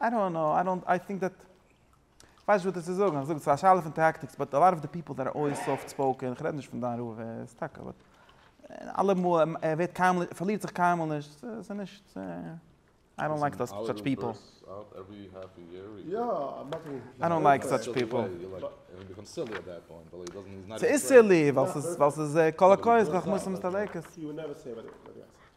איי דאנט קנאו, איי דאנט, איי טינק דעט, כ'ווייס נישט וואס צו זאגן, כ'זאג עס איז א שאלה פון טאקטיקס, באט א לאט אוו די פיפל דעט אר אלוועיס סאפט ספאוקען, כ'רעד נישט פון דיין רב, ער איז טאקע, באט אלעמאל, ער ווערט קיינמאל, ער פארלירט זיך קיינמאל נישט, ס'איז נישט, איי דאנט לייק סאטש פיפל. איי דאנט לייק סאטש פיפל. ס'איז סילי, ווייל ס'איז, ווייל ס'איז קאלאקויעס חכמות מצטדקת.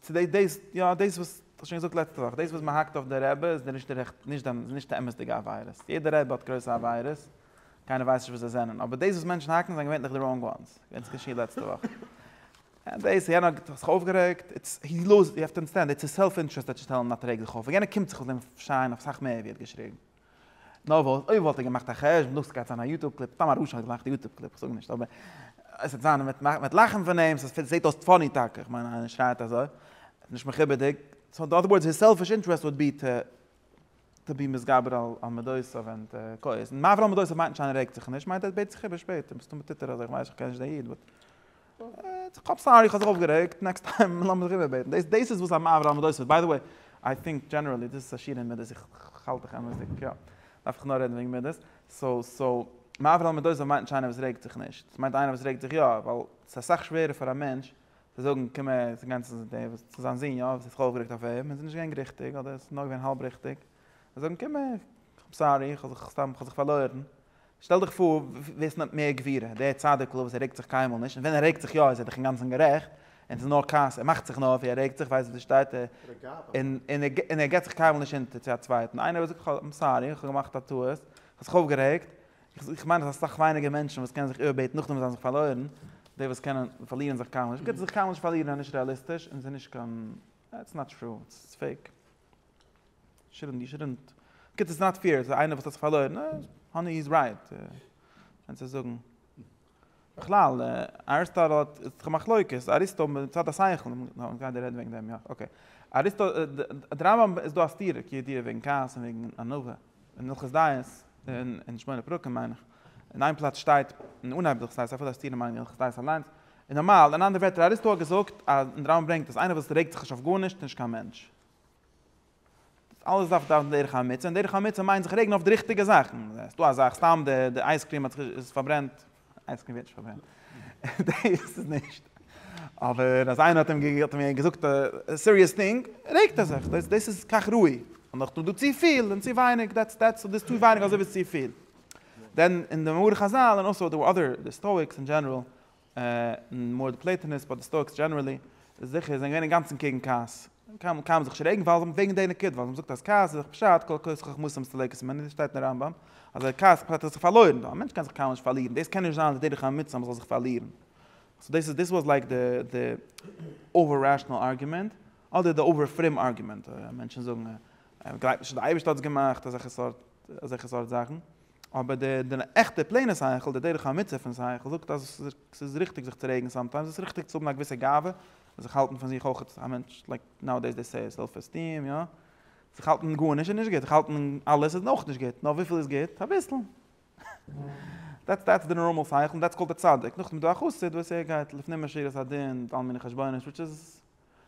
צו דאס דאס יא דאס וואס כ'האב שוין געזאגט לעצטע וואך דאס וואס מען האקט אויף די רבי איז די נישט די נישט די נישט די אמת'דיגע עבירות יעדע רבי האט גרויסע עבירות קיינער ווייסט נישט וואס זיי זענען אבער דאס וואס מענטשן האקן זענען געווענטליך די ראנג וואנס ווען ס'איז געשעהן לעצטע וואך און דאס יענער האט זיך אויפגערעגט איטס הי לאז יו העוו טו אנדערסטענד איטס היז סעלף אינטערעסט ער טוט שטעלן א טרעגליכע אויף וועגן ער קומט זיך אויף דעם שיין אויף סאך מער ווי ער האט געשריגן. נאר וואס, אויב וואלט ער געמאכט א חשבון דאס גייט זיין א יוטוב קליפ, סתם א רשע האט געמאכט א יוטוב קליפ, איך זאג נישט, אבער עס וועט זיין, מען וועט לאכן פון אים, עס זעט אויס פאני טאקע, איך מיין איינער שרייט אזוי, נישט מכובד'יג, סאו אין אדער ווארדס היז סעלפיש אינטערעסט וואלד בי טו טו בי מתגבר על מדותיו ענד כועס, און מה אברהם מדותיו מיינט נישט איינער רעגט זיך נישט, מיינט ער בעט זיך איבער שפעטער, מסתמא טוט ער אזוי, איך ווייס נישט איך קען נישט דעם איד באט. כ'האב סארי כ'האב זיך אויפגערעגט, נעקסט טיים לאמיר זיך איבערבעטן, דאס איז וואס א מאוו רעמאדאויס איז, ביי די וועי איי טינק דזשענערעלי דאס איז עשירים מידות, איך האלט דיך אמת'דיג, יא דארף איך נאר רעדן וועגן מידות, סאו סאו מאוו רעמאדאויס מיינט נישט איינער וואס רעגט זיך נישט, עס מיינט איינער וואס רעגט זיך יא, ווייל עס איז אסאך שווערער פאר א מענטש צו זאגן קום הער צו גיין צו דעם וואס צו זיין זון יא וואס האט זיך אויפגערעגט אויף אים און עס איז נישט געווען ריכטיג אדער עס איז נאר געווען האלב ריכטיג, זאגן קום הער כ'איז סארי כ'האב זיך סתם כ'האב זיך פארלוירן, שטעל דיך פאר ווער ס'נעמט מער גבירה, דער צדיק'ל וואס ער רעגט זיך קיינמאל נישט, און ווען ער רעגט זיך יא איז ער דאך אינגאנצן גערעכט, און ס'איז נאר כעס, ער מאכט זיך נאר ווי ער רעגט זיך, ווייסט וואס דא שטייט, און ער גיבט זיך קיינמאל נישט אונטער צו א צווייטן, איינער וואס זאגט איים סארי, איך האב געמאכט א טעות, איך האב זיך אויפגערעגט, איך מיין אז ס'איז אסאך ווייניגער מענטשן וואס קענען זיך איבערבעטן נאכדעם וואס זיי האבן זיך פארלוירן, די וואס קענען פארלירן זיך קיינמאל נישט, גיבט זיך קיינמאל נישט פארלירן איז נישט רעאליסטיש און ס'איז נישט קיין, איטס נאט טרו, איטס פעיק. שרינט די שרינט קעט איז נאט פעיר איז איינער וואס האט זיך פארלוירן האני איז רייט קען צו זאגן בכלל אריסטאטל האט צו מחלוקת אריסטו מיט צד השכל נאר גייט רעדן וועגן דעם יא אקעי אריסטו דרמם איז דא א סתירה כידיעה וועגן כעס און וועגן ענווה אין הלכות דיעות, אין שמונה פרקים מיין איך, אין איין פלאץ שטייט אין אנהייב די הלכות דיעות, אפילו א סתירה מיינען די הלכות דיעות אליינס, און נארמאל, אין אנדערע ווערטער אריסטו האט געזאגט, און די רמב ם ברענגט, אז איינער וואס רעגט זיך נישט אויף גארנישט איז נישט קיין מענטש. דאס אלעס דארף דארף דרך האמיצה, און דרך האמיצה מיינט זיך רעגן אויף די ריכטיגע זאכן, ס'דא א זאך סתם די אייזקריעם האט זיך איז פארברענט, איינס קען ווירטשאפט ווערן. דעיס איז נישט. אבער אז איינער האט אים געזאגט א סיריעס טינג, רעגט ער זיך. דעיס איז כך ראוי. און נאך דא צופיל און צוווייניג, דעטס דעטס דאס איז צו ווייניג אזוי ווי עס איז צופיל. דען אין די מאמרי חזל און אלסא די אדער די סטאיקס אין דזשענעראל, און מאר די פלעטינעס באט די סטאיקס דזשענערעלי, איז זיכער זיי זענען געווען אינגאנצן קעגן כעס. קען מען זיך שרעגן ווייל זיי האבן וועגן די נקודה, ווייל מען זאגט אז כעס איז דאך פשט כל כוס חכמות מסתלקת ממנה, דאס שטייט אין רמב ם אז ווער כעסט פשט אז ער האט זיך פארלוירן, ווייל א מענטש קען זיך קיינמאל נישט פארלירן, דאס קען נישט זיין די דרך האמיצה אז מען זאל זיך פארלירן. סאו דאס איז דאס וואס לייק די די אווער רעשאנעל ארגומענט, אדער די אווער פרום ארגומענט, מענטשן זאגן אז מען גלייבט נישט אז די אייבערשטער האט עס געמאכט, אזעלכע סארט אזעלכע סארט זאכן. אבער דער עכטער פלעינער שכל, דער דרך האמיצה פון שכל, זאגט אז עס איז ריכטיג זיך צו רעגן סאמטיימס, עס איז ריכטיג צו האבן א געוויסע גאווה, און זיך האלטן פון זיך אויך א מענטש, לייק נאו-עי-דעיס דעי סעי סעלף עסטיעם, יא? זיך האלטן גארנישט איז נישט גוט, זיך האלטן אלעס איז אויך נישט גוט, נאר וויפיל איז גוט? אביסל. דעטס דעטס די נארמאל שכל, און דעטס קאלד א צדיק. נאכדעם איז דא א חסיד וואס ער גייט לפנים משורת הדין, מיט אלע מיני חשבונות, וויטש איז.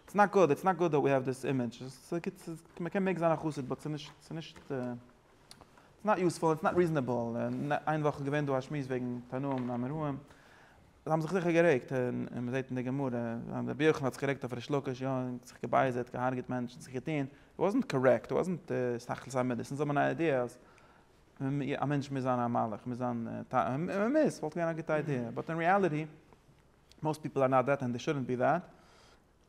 איטס נאט גוד, איטס נאט גוד דעט ווי העוו דיס אימעדזש, מ'קען מעג זיין א חסיד באט ס'איז נישט, ס'איז נישט, איטס נאט יוספול, איטס נאט ריזענעבל, איין וואך איז געווען דא א שמועס וועגן תנאים און אמוראים, זיי האבן זיך זיכער גערעגט, און מ'זעט אין די גמרא, רבי יוחנן האט זיך גערעגט אויף ריש לקיש, יא, און זיך געבייזערט, געהארגעט מענטשן, זיך געטון, איט וואזנט קארעקט, איט וואזנט תכלית המידות, אונז האבן אן איידיע אז א מענטש מוז זיין א מלאך, מוז זיין, און מ'מוז, ס'וואלט געווען א גוטע איידיע, באט אין רעאליטי, מאסט פיפל אר נאט דעט ענד דעי שודענט בי דעט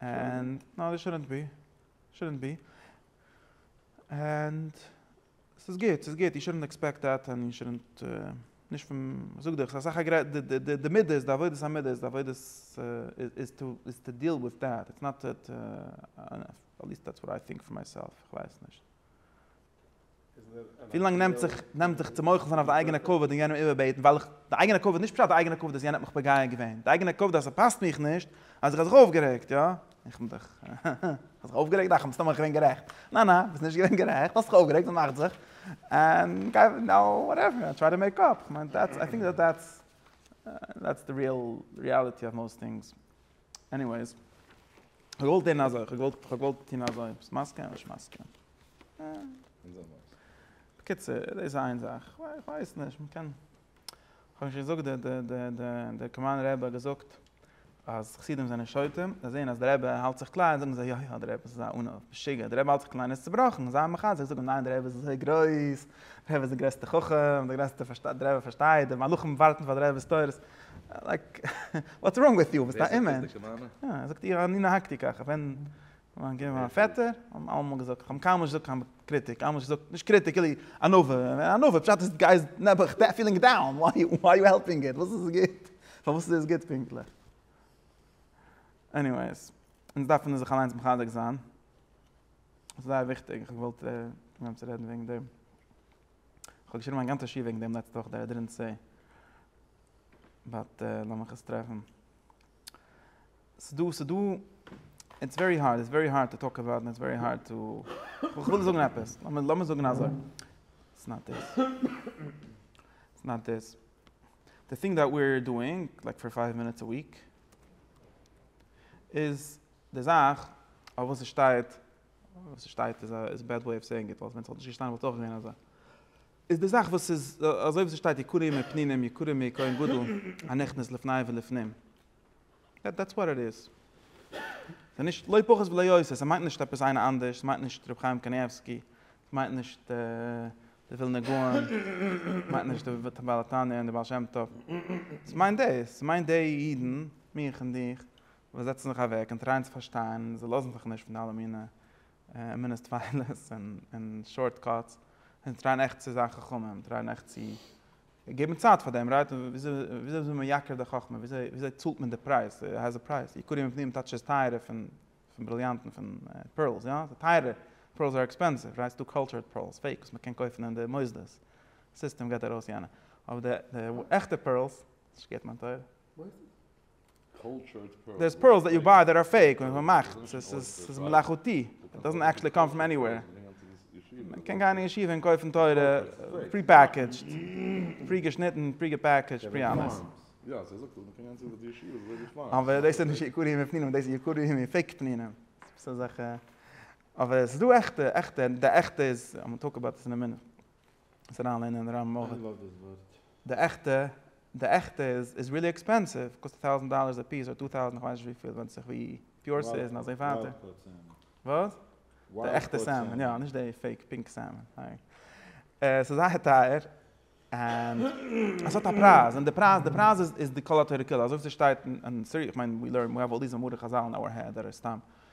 ענד נאו דעי שודענט בי שודענט בי ענד ס'איז גוט ס'איז גוט יו שודענט עקספעקט דעט ענד יו שודענט נישט פון זאג דיך ס'איז אסאך א די מידות די עבודת המידות איז די עבודת איז טו איז טו דיעל וויט דעט איטס נאט דעט עטליעסט דעטס וואט איי טינק פאר מיי סעלף כ'ווייס נישט. ווילאנג נעמט זיך נעמט זיך צו מוחל זיין אויף די אייגענע כבוד און יענעם איבערבעטן ווייל איך די אייגענע כבוד נישט פשט די אייגענע כבוד אז יענער האט מיך פוגע געווען די אייגענע כבוד אז ס'פאסט מיך נישט אז איך האב זיך אויפגערעגט יא איך בין דאך כ'האב זיך אויפגערעגט דאך מסתמא איך געווען גערעכט ניין ניין ביסט נישט געווען גערעכט האסט זיך אויפגערעגט וואס מאכט זיך און גיי נאו וואטעווער איי טריי טו מעיק אפ כ'מיין דעטס איי טינק דעטס דעטס די ריעל ריעליטי אוו מאוסט טינגס עניוועיס כ'האב געוואלט טון אזוי כ'האב געוואלט כ'האב געוואלט טון אזוי ביסט מסכים? ביסט מסכים? בקיצור, דאס איז איין זאך. איך ווייס נישט, מען קען, איך האב נישט געזאגט די די די די די קאמאן רעבע האט געזאגט אז חסידים זענען שוטים, זיי זעען אז די רעבע האלט זיך קליין זאגן זיי יא יא די רעבע איז א ענו, משוגע, די רעבע האלט זיך קליין איז צובראכן, זיי מחזק זיי זאגן ניין די רעבע איז אזוי גרויס, די רעבע איז די גרעסטע חכם, די גרעסטע פארשטייט, די רעבע פארשטייט, די מלאכים ווארטן פאר די רעבע'ס תורות, לייק וואטס ראנג וויט יו, ביסט א אומענטש? ווער זאגט דאס די קאמאנע? יא, ער זאגט איר אני נהגתי ככה, ווען מיין געווען מיין פעטער, האט מיר אלעמאל געזאגט, איך האב אים קיינמאל נישט געזאגט קיין קריטיק, קיינמאל נישט געזאגט, נישט קריטיק, כאילו ענווה, ענווה פשט איז די גאי איז נעבעך פעלינג דאון, וויי יו העלפינג איט, וואס איז גוט, פארוואס איז עס גוט פונקטליך? עניוועיס, אונז דארף אונז זיך אליינס מחזק זיין, עס איז זייער וויכטיג, איך האב געוואלט אנהייבן צו רעדן וועגן דעם, איך האב געשריבן א גאנצע שיעור וועגן דעם לעצטע וואך, דער איי דידענט סעי, באט לאמיך עס טרעפן, ס'דא ס'דא איטס ווערי הארד איטס ווערי הארד טו טאלק אבאוט איטס ווערי הארד טו איך וויל זאגן עפעס לאמיר זאגן אזוי איטס נאט דיס איטס נאט דיס די טינג דעט ווי אר דואינג לייק פאר פייוו מינוטס א וויק איז די זאך אויף וואס ס'שטייט וואס ס'שטייט איז א בעד וועי אוו סעינג איט ווייל ווען ס'וואלט נישט געשטאנען וואלט עס אויך געווען אזוי איז די זאך וואס איז אזוי ווי ס'שטייט יקרים מער פנינים יקרים מער כהן גדול הנכנס לפני ולפנים. דעטס וואט איט איז. ס'איז נישט לא פחות ולא יותר, ס'מיינט נישט עפעס איינער אנדערש, ס'מיינט נישט רבי חיים קנייבסקי, ס'מיינט נישט די ווילנער גאון, ס'מיינט נישט די בעל התניא און די בעל שם טוב. ס'מיינט דאס, ס'מיינט די אידן, מיך און דיך, וואס זעצן זיך אוועק און טרייען צו פארשטיין און זיי לאזן זיך נישט פון די אלע מיני און מינע סטוויילעס און שארט קאטס און טרייען עכט צו זיין חכמים טרייען עכט צו געבן צייט פאר דעם רייט וויאזוי איז מייקר די חכמה וויאזוי צאלט מען די פרייז הייסט די פרייז יקרים מפניהם טייטש איז טייערער פון בריליאנטן פון פערלס יא ס'איז טייערער פערלס אר עקספענסיוו רייט ס'דא קאלטשערד פערלס פעיק וואס מ'קען קויפן אין די מוסדות סיסטעם געט ארויס יענע אבער די עכטע פערלס נישט געט מיין טויער. דעיס פערלס דעט יו ביי דעט אר פעיק וואס מ'מאכט ס'איז מלאכותי איט דאזענט עקשעלי קאם פראם עניוועיר מ'קען גיין אין ישיבה און קויפן תורה פרי פעקעדזשד פרי געשניטן פרי געפעקעדזשד פרי אלעס אבער דאס איז נישט יקורי ימי פנינים דאס איז יקורי ימי פעיק פנינים ס'איז אזעלכע אבער ס'איז דא עכטע עכטע די עכטע איז. זיך אריינלערנען אין רמ א. איי לאוו דיס ווארט. די עכטע, די עכטע איז איז ריעלי עקספענסיוו, קאסט א טויזענט דאללערס א פיס, אדער טו טאוזענט, כ'ווייס נישט וויפיל, ווענדט זיך ווי פיור ס'איז און אזוי ווייטער. וויילד קאוט סעלמאן. וואס? די עכטע סעלמאן, יא, נישט די פעיק פינק סעלמאן. ס'איז זייער טייער, און עס האט א פרייז, און די פרייז, די פרייז איז איז די כל התורה כולה, אזוי ווי ס'שטייט אין, ס'איז, כ'מיין, ווי לערן, ווי האב אלל דיס מאמרי חזל אין אווער העד, אדער סתם,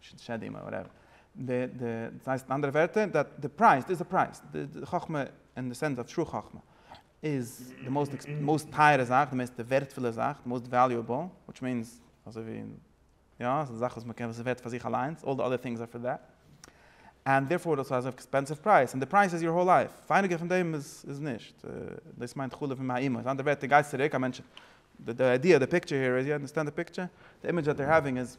שדים אדער וואטעווער. די די דאס הייסט אין אנדערע ווערטער דעט די פרייז דאס איז די פרייז די חכמה אין די סענס אוו טרו חכמה איז די מאסט עקספענס מאסט טייערע זאך די מערסטע ווערטפולע זאך די מאסט וועליועבל וויטש מיענס אזוי ווי יא ס'איז די זאך וואס מ'קען וואס איז ווערט פאר זיך אליינס אלל די אדער טינגס אר פאר דעט ענד דערפאר דאס איז עקספענסיוו פרייז און די פרייז איז יור האול לייף ווייניגער פון דעם איז איז נישט דאס מיינט חלב עם האימא איז אנדערע ווערטער גייסט צוריק א מענטש די איידיע די פיקטשער העיר איז יו אנדערסטענד די פיקטשער די אימעדזש דעט דער העווינג איז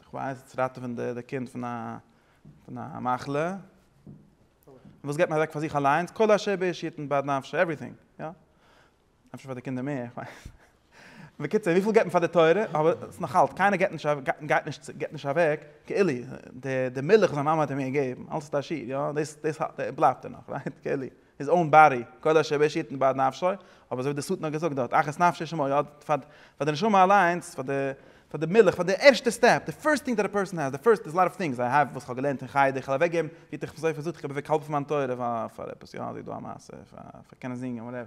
איך ווייס צו ראטעווען די קינד פון א מחלה, און וואס געט מען אוועק פאר זיך אליינס, כל אשר באש יתן בעד נפשו, עווריטינג, יא, אפשר פאר די קינדער מער, איך ווייס נישט. בקיצור, וויפיל געט מען פאר די תורה, אבער עס איז נאכאלץ, קיינער געט נישט, גייט נישט, געט נישט אוועק, כאילו, די מילך וואס זיין מאמע האט אים געגעבן, אלץ איז ער עשיר, יא, דאס בלייבט דערנאך, רייט, כאילו. איז אן באדי, כל אשר בו אישית איבד נפשו, אבער אזוי ווי דער סטן האט געזאגט דארט, אחת נפשי שמא יאבד, פאר פאר די נשמה אליינס, פאר די פאר די מילך, פאר די ערשטע סטעפ, די פירסט טינג דעט א פערסאן העז, די פירסט, דעיס א לאט אוו טינגס איי העוו וואס כ'האב געלערנט אין חדר, כ'על אוועקגעבן, ווי האט ער זיך אויך זאגט איך געב אוועק האלב פון מיין תורה פאר פאר עפעס, יא זיי דא א מעשה פאר פאר קענען זינגען וואטעווער,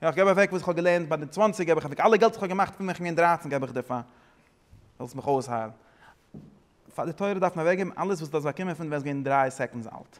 יא כ'געב אוועק וואס כ'האב געלערנט ביי די צוואנציג געב איך אוועק, אלע געלט וואס כ'האב געמאכט פון ווען כ'בין געווען דרייצן געב איך דיר פאר זאלסט מיך אויסהיילן, פאר די תורה דארף מען אוועקגעבן אלעס וואס דו האסט באקומען פון ווען ביסט געווען דריי סעקאנדס אלט,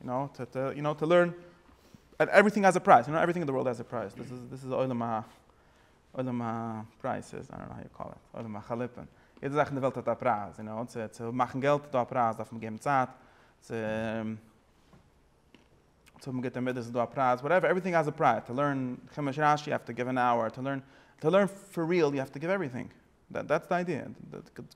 יו נאו, טא טא, יו נאו, טא לערן, ענד עווריטינג האז א פרייז, יו נאו, עווריטינג אין די ווארלד האז א פרייז, דאס איז, דאס איז עולם ה, עולם הפרייזעס, איי דאנט נאו האו יו קאל איט, עולם החליפין, יעדע זאך אין די וועלט האט א פרייז, יו נאו, צו, צו מאכן געלט איז דא א פרייז, דארף מען געבן צייט, צו, צו האבן גוטע מידות איז דא א פרייז, וואטעווער, עווריטינג האז א פרייז, טא לערן חומש רש י יו האוו טא גיוו ען אווער, טא לערן, טא לערן פאר ריעל יו האוו טא גיוו עווריטינג. דעטס די איידיע,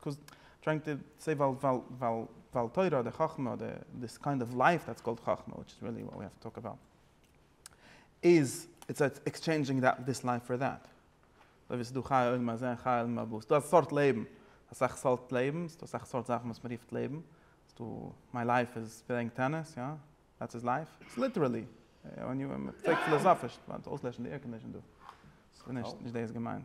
קאז טרייענג טו סעי ווייל ווייל ווייל תורה אדער חכמה אדער דיס קיינד אוו לייף דעטס קאלד חכמה וויטש איז ריעלי וואט ווי האב טו טאלק אבאוט איז איטס עקסטשעינדזשינג דיס לייף פאר דעט אזוי ווי ס'דא חיי עולם הזה חיי עולם הבא ס'דא א סארט לעבן אסאך סארט לעבן ס'דא אסאך סארט זאכן וואס מ'רופט לעבן ס'דא מיי לייף איז פלעיאינג טעניס יא דעטס איז לייף איטס ליטערעלי ווען יו פרעגט פילאזאפיש מ'דארף אויסלעשן די עירקאנדישן דא ס'נישט נישט דאס געמיינט.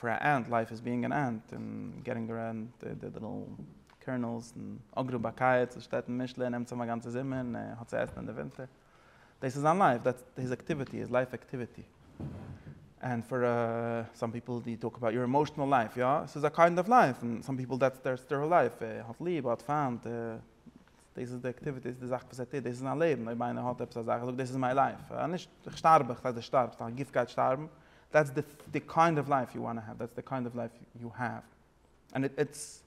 פאר א ענט לייף איז ביאינג ען ענט און געטינג די רענט די ליטעל קערנעלס און אגרא באקייעטס וואס שטייט אין משלי און נעמט צאם א גאנצע זומער און ער האט צו עסן אין די ווינטער דאס איז זיין לייף דעטס היז עקטיוויטי היז לייף עקטיוויטי ענד פאר סאם פיפעל די טאלק אבאוט יור עמאשענעל לייף יא עס איז א קיינד אוו לייף און סאם פיפעל דעטס דער לייף ער האט ליב ער האט פיינט דאס איז די אקטיוויטי, דאס איז די זאך וואס ער טוט, דאס איז זיין לעבן, אויב איינער האט עפעס א זאך, ער זאגט דאס איז מיין לייף, נישט איך שטארב, איך זאג דו שטארבסט, דיין גוף גייט שטארבן, דעטס די די קיינד אוו לייף יו וואנט טו העוו, דעטס די קיינד אוו לייף יו העוו, ענד איט איטס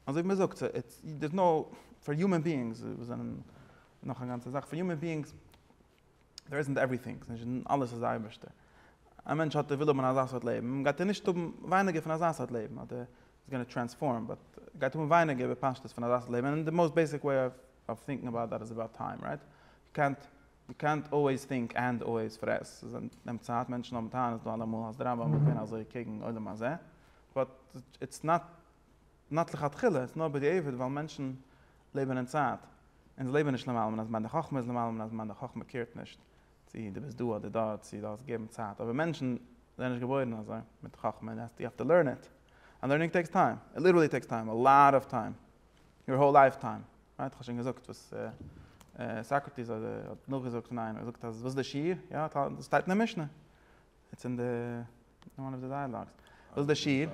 אזוי ווי מען זאגט, איטס דערס נאו, פאר יומען ביאינגס וואס זענען נאך א גאנצע זאך, פאר יומען ביאינגס דער איזנט עווריטינג, ס'איז נישט דען אלעס איז דער אייבערשטער. א מענטש האט ער וויל האבן אזא סארט לעבן, גייט ער נישט האבן ווייניגער פון אזא סארט לעבן, אדער איז גאנע טרענספארם, באט גייט האבן ווייניגער בפשטות פון אזא סארט לעבן, און די מאוסט בעיסיק וועי אוו אוו טינקן אבאוט דעט איז אבאוט טיים, רייט? יו קענט יו קענט אלוועיס טינק ענד אלוועיס פרעס, עס נעמט צייט, מענטשן האבן טענות דא אלעמאל אז די רמב ם איז געווען אזוי קעגן עולם הזה, באט איטס נאט. נאט לכתחילה, עס איז נאר בדיעבד ווייל מענטשן לעבן אין צייט, און זיי לעבן נישט למעלה מן הזמן, די חכמה איז למעלה מן הזמן, די חכמה קעירט נישט צי דו ביסט דא אדער דארט, צי דו האסט געגעבן צייט, אבער מענטשן זענען נישט געבוירן אזוי מיט חכמה, יו העוו טו לערן איט, ענד לערנינג טעיקס טיים, איט ליטערלי טעיקס טיים, א לאט אוו טיים, יור האול לייף טיים, רייט? כ'האב שוין געזאגט וואס סאקרעטיס האט נאכגעזאגט פון איינעם, ער זאגט אז וואס איז די שיעור? יא, דאס שטייט אין די משנה, איטס אין די, אין וואן אוו די דייעלאגס, וואס איז די שיעור?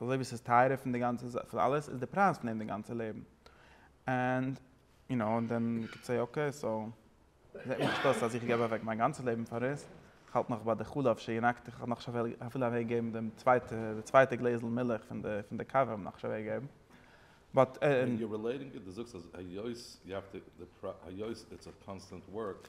אזוי ווי ס'איז טייערער פון די גאנצע זאך, פון אלעס, איז די פרייז פון דעם די גאנצע לעבן. ענד יו נאו, און דען יו קען סעי אקעי, סאו, זעט מיר נישט אויס אז איך געב אוועק מיין גאנצע לעבן פאר עס, איך האלט נאך ביי די חלב שינקתי, איך האב נאך נישט אפילו אוועק געגעבן דעם צווייטע, די צווייטע גלעזל מילך פון די, פון די קאווע האב איך נאך נישט אוועק געגעבן. באט. און יו רילעיטינג איט, דו זאגסט אז היות יו האוו טו, היות איטס א קאנסטענט ווארק,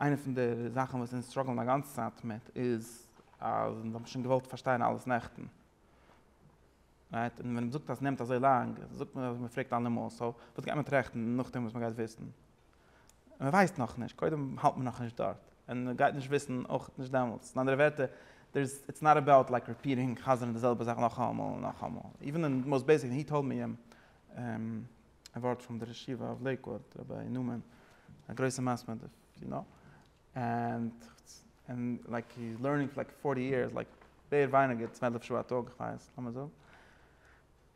איינע פון די זאכן וואס אונז סטראגלן א גאנצע צייט מיט איז אז אונז האבן שוין געוואלט פארשטיין אלעס נעכטן. רייט? און ווען מען זאגט אז ס'נעמט אזוי לאנג, זאגט מען אז מען פרעגט אלעמאל, סאו וואס גייט מען טראכטן נאכדעם וואס מען גייט וויסן? מען ווייסט נאכנישט, קודם האלט מען נאכנישט דארט, און מען גייט נישט וויסן אויך נישט דעמאלטס. אין אנדערע ווערטער, דער איז, איטס נאט אבאוט לייק ריפיעטינג, חזר'ן די זעלבע זאך נאכאמאל און נאכאמאל. איווען אין די מאוסט בעיסיק, און הי טאלד מי, א ווארט פון די רשיבה אוו לעיקוואד רבי נאמן א גרויסע מסמר די יו נאו ענד ענד לייק הי איז לערנינג פאר לייק פארטי יערס לייק מער ווייניגער צוועלף שעה א טאג כווייס לאמיר זאגן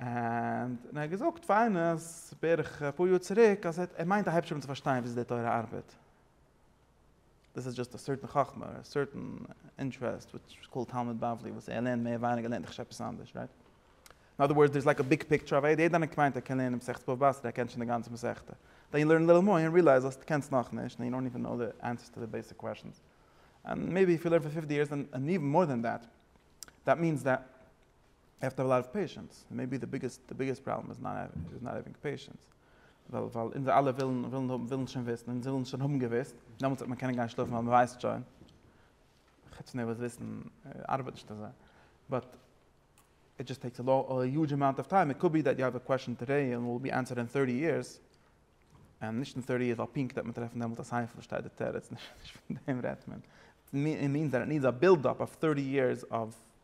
ענד ער האט געזאגט פאר איינער אז בערך אפאר יאר צוריק אז ער מיינט א היבשע מאל צו פארשטיין וויאזוי די תורה ארבעט. דאס איז דזשאסט א סערטען חכמה, א סערטען אינטרעסט וויטש איז קאלד תלמוד בבלי וואס ער לערנט מער ווייניגער לערנט ער כש עפעס אנדערש רייט? אין אדער ווארדס דער איז לייק א ביג פיקטשער אויף איעדע איינער מיינט ער קען לערנען מסכת בבא בתרא ער קען שוין די גאנצע מסכת דען יו לערן ליל מוה אין ריעלייז אז די קענסט נאך נישט אין יו דאנט איווען נאו די ענסערס טו די בעסיק קוועשאנס אין מעיבי איף יו לערן פאר פיפטי יערס אין איווען מאר דען דעט דעט מיענס דעט יו העוו טו האוו א לאט אוו פעישענס מעיבי די ביגעסט די ביגעסט פראבלעם איז נאט האווינג פעישענס. ווייל ווייל אונזער אלע ווילן ווילן האבן ווילן שוין וויסן און זיי ווילן שוין האבן געוויסט, דעמאלטס וועט מען קענען גיין שלאפן ווייל מען ווייסט שוין, חוץ נערוועז וויסן ארבעט נישט אזוי, באט איט דזשאסט טעיקס א היודזש אמאונט אוו טיים, איט קאוד בי דעט יו האוו א קוועשאן טודעי און וויל בי ענסערד אין טורטי יערס, און נישט אין טורטי יערס ווייל פונקט וועט מען טרעפן דעמאלטס א סייף וואס שטייט די תירוץ, נישט פון דעם רעדט מען, איט מינס דעט איט נידס א בילד אפ אוו טורטי יערס אוו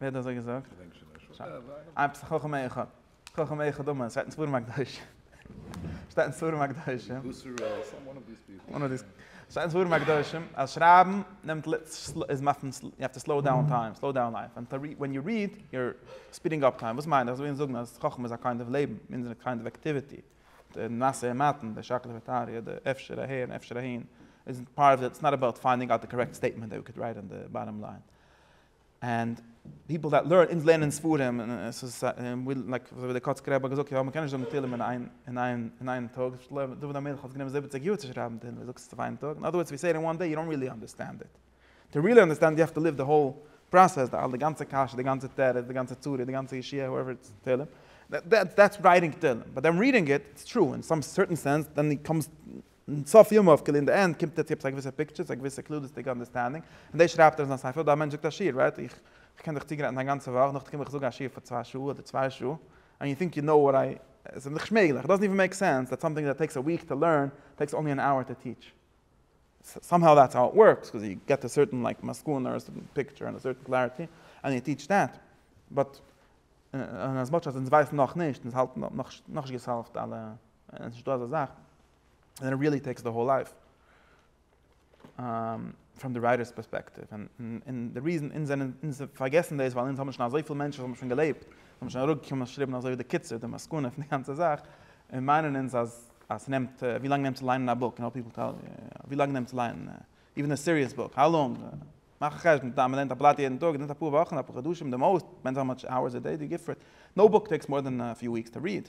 ווער האט אזוי געזאגט? איין פסח חכם אחד. חכם אחד אמן. ס'שטייט אין ספרים הקדושים. ס'שטייט אין ספרים הקדושים. ס'שטייט אין ספרים הקדושים אז שרייבן נעמט ל ס איז מאכט מען יו העוו טו סלאו דאון טיים, סלאו דאון לייף. ווען טו ווען יו ריד יור ספידינג אפ טיים. וואס מיין איך? ס'וויל זאגן אז חכם איז א קיינד אוו לעבן, מינדערן איז א קיינד אוו עקטיוויטי. די נעשה און מתן, די שקלא וטריא, די אפשר אהער און אפשר אהין, איז פארט אוו די, ס'איז נאט אבאוט פיינדינג אוט די קארעקט סטעיטמענט דעט ווי קען רייט אן די באטאם ליין. ענד פיפל דעט לערן, אונז לערנען ספרים, לייק ווי דער קאצקער רבי האט געזאגט, יא מ'קען נישט זאגן תהלים אין איין טאג, דוד המלך האט גענומען זיבעציג יאר צו שרייבן תהלים, ווער זאגט עס אויף איין טאג, אין אדער ווארדס ווי סעי איט אין וואן דעי, יו דאנט ריעלי אנדערסטענד איט, טו ריעלי אנדערסטענד יו העוו טו ליוו די האול פראסעס, די אלע גאנצע קשיא, די גאנצע תירוץ, די גאנצע צרה, די גאנצע ישועה, האועווער איטס תהלים, דעטס רייטינג תהלים, באט דען רידינג איט, איטס טרו, אין סאם סערטען סענס, דען קאמס און סוף ימיו כאילו אין די ענד קומט ער צו עפעס א געוויסע פיקטשער צו א געוויסע כללית'דיגע אנדערסטענדינג און דאס שרייבט ער אין זיין ספר אדער א מענטש זאגט א שיעור רייט איך קען דיך צוגרייטן א גאנצע וואך נאכדעם קום איך זאג א שיעור פאר צוויי שעה אדער צוויי שעה ענד יו טינק יו נאו וואט איי עס איז נישט מעגליך איט דאזענט איווען מעיק סענס דעט סאמטינג דעט טעיקס א וויק טו לערן טעיקס אנלי ען אווער טו טיעטש סאם האו דעטס האו איט ווארקס קאוז יו געט א סערטען לייק מסקנא אר א סערטען פיקטשער און א סערטען קלעריטי ענד יו טיעטש דעט באט און אז מאטש אז אונז ווייסן נאכנישט אונז האלטן נאכנישט געסאלווט אלע. עס איז נישטא אזא זאך, ענד איט ריעלי טעיקס די האול לייף פראם די רייטערס פערספעקטיוו, און די ריזען אונז זענען, אונז פארגעסן דאס ווייל אונז האבן שוין אזויפיל מענטשן וואס האבן שוין געלעבט, און האבן שוין אראפגעקומען און געשריבן אזוי ווי די קיצור, די מסקנא פון די גאנצע זאך, און מיינען אונז אז אז ס'נעמט, ווי לאנג נעמט צו ליינען א בוק, ווי לאנג נעמט צו ליינען איווען א סיריעס בוק, האו לאנג, מאך א חשבון, טאמער מ'לערנט א בלאט יעדן טאג, עס נעמט אפאר וואכן, אפאר חדשים די מאוסט, דיפענדס האו מאטש אוערס א דעי דו גיבסט פאר איט, נאו בוק טעיקס מאר דען א פיו וויקס טו ריעד.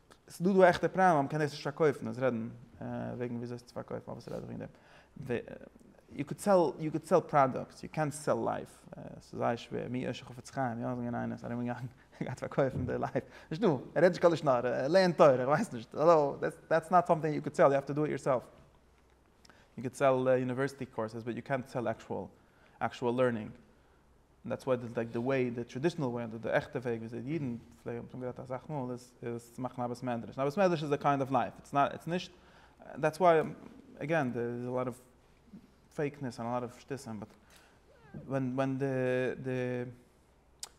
ס'איז דא דא עכטע פראבלעם אז מ'קען דאס נישט פארקויפן, אונז רעדן וועגן ווי אזוי עס צו פארקויפן אבער ס'רעדט זיך וועגן דעם, יו קען סעל, יו קען סעל פראדאקטס, יו קענט סעל לייף, ס'איז זייער שווער, מי ישע חפץ חיים, יא זינגען איינער איז ארום געגאנגען און געהאט פארקויפן די לייף, נישט דא, ער רעדט נישט קיין לשון הרע, ער לערנט תורה, איך ווייס נישט, דעטס נאט סאמטינג יו קען סעל, יו האוו טו דו איט יורסעלף. יו קען סעל יוניווערסיטי קאורסעס באט יו קענט סעל עקשועל עקשועל לערנינג און דעטס וואט די די וועי די טראדישענעל וועי אדער די עכטע וועג ווי אזוי די אידן פלעגן האבן שוין גערעדט אסאך מאל איז איז צו מאכן א בית מדרש און א בית מדרש איז א קיינד אוו לייף איטס נאט איטס נישט דעטס וואי עגעין דער איז א לאט אוו פעיק נעס און א לאט אוו שטותים באט ווען ווען די די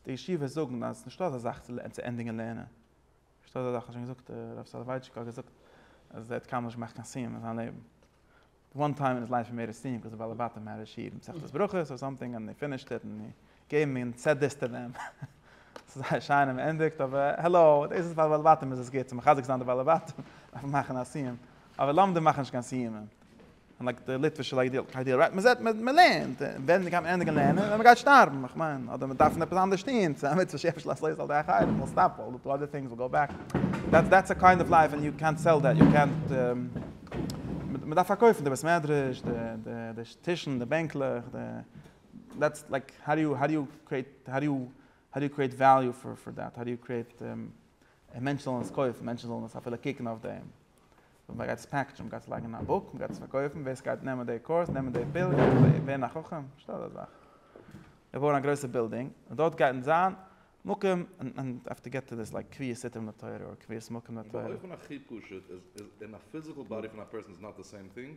די ישיבות זאגן אז ס'נישטא אזא זאך צו ענדיגן לערנען. פארשטייט אזא זאך האט שוין געזאגט הרב סאלאווייטשיק האט געזאגט אז ער האט קיינמאל נישט געמאכט קיין סיום אין זיין לעבן די וואן טיים אין היז לייף הי מעיד א סיום קאוז די בעלי בתים הער היז שיעור מסכת ברכות אר סאמטינג און הי פינישד איט און הי געיוו מי אן סעט דיס טו דעם ס'איז זייער שיין און מען ענדיגט אבער העלאו דאס איז פאר די בעלי בתים איז עס גוט צו מחזק זיין די בעלי בתים דארף מען מאכן א סיום אבער לומדים מאכן נישט קיין סיומים. און לייק די ליטווישע לייק די קיידעל רייט מען זעט מען לערנט און ווען גייט מען ענדיגן לערנען ווען מען גייט שטארבן איך מיין אדער מען דארף עפעס אנדערש טוהן ס'איז א מצוה שער פארשלאס לויז אל דעי אחרים וויל סטאפ אל די אדער טינגס וויל גאו בעק דעטס דעטס א קיינד אוו לייף און יו קענט סעל דעט יו קענט מען דארף פארקויפן די בית מדרש די די די טישן די בענקלעך די דעטס לייק האו דו יו האו דו יו קריעט האו דו יו האו דו יו קריעט וועליו פאר פאר דעט האו דו יו קריעט מענטשן זאלן עס קויפן מענטשן זאלן עס אפילו קוקן אויף דעם. וואס מען גייט עס פעקטשען, מען גייט עס לייגן אין א בוק, מען גייט עס פארקויפן, ווער סגייט נעמען די קורס, נעמען די פיל, גייט ווערן א חכם, שטעל דיך אזא זאך, בויען א גרויסע בילדינג, און דארט גייט זיין מקום, און יו האוו טו געט טו דיס לייק קביעות סתרים לתורה, אדער קביעות מקום לתורה. און באופן הכי פשוט איז אין א פיזיקעל באדי פון א פערסאן איז נאט די סעים טינג.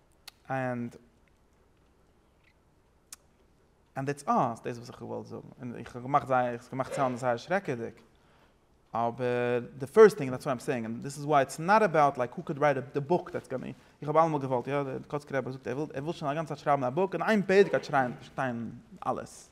און און דעטס אלל, דאס וואס איך האב געוואלט זאגן, און איך האב געמאכט זייער, עס האט געמאכט סאונד זייער שרעקעדיג, אבער די פירסט טינג, דעטס וואט איים סעיאינג, און דאס איז וויי איטס נאט אבאוט לייק הו קען רייט די בוק דעטס גאנני, איך האב אלעמאל געוואלט, יא, דער קאצקער רבי זאגט ער וויל שוין א גאנצע צייט שרייבן א בוק, אין איין פרק גייט שרייען, פארשטיין אלעס,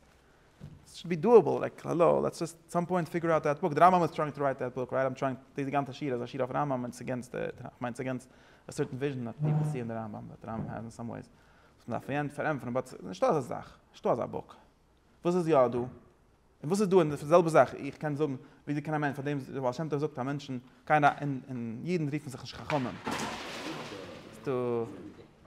עס שוד בי דואעבל, לייק האלא, לעטס דזשאסט סאם פוינט פיגור אוט דעט בוק, די רמב ם איז טרייענג טו רייט דעט בוק, רייט, איים טרייענג, די די גאנצע שיעור איז א שיעור אויף רמב ם און ס'אגענסט די, כ'מיין ס'אגענסט א סערטען וויזשען דעט פיפעל סי אין די רמב ם דעט רמב ם העז אין סאם וועיס וואס מען דארף פארענטפערן באט ס'איז נישטא אזא זאך, נישטא אזא בוק. וואס איז יא דא? און וואס איז דא אין די זעלבע זאך, איך קען זאגן וויאזוי קען א מענטש, פארדעם די בעל שם טוב זאגט אז מענטשן גייען א, און אידן רופן זיך נישט חכמים. ס'דא.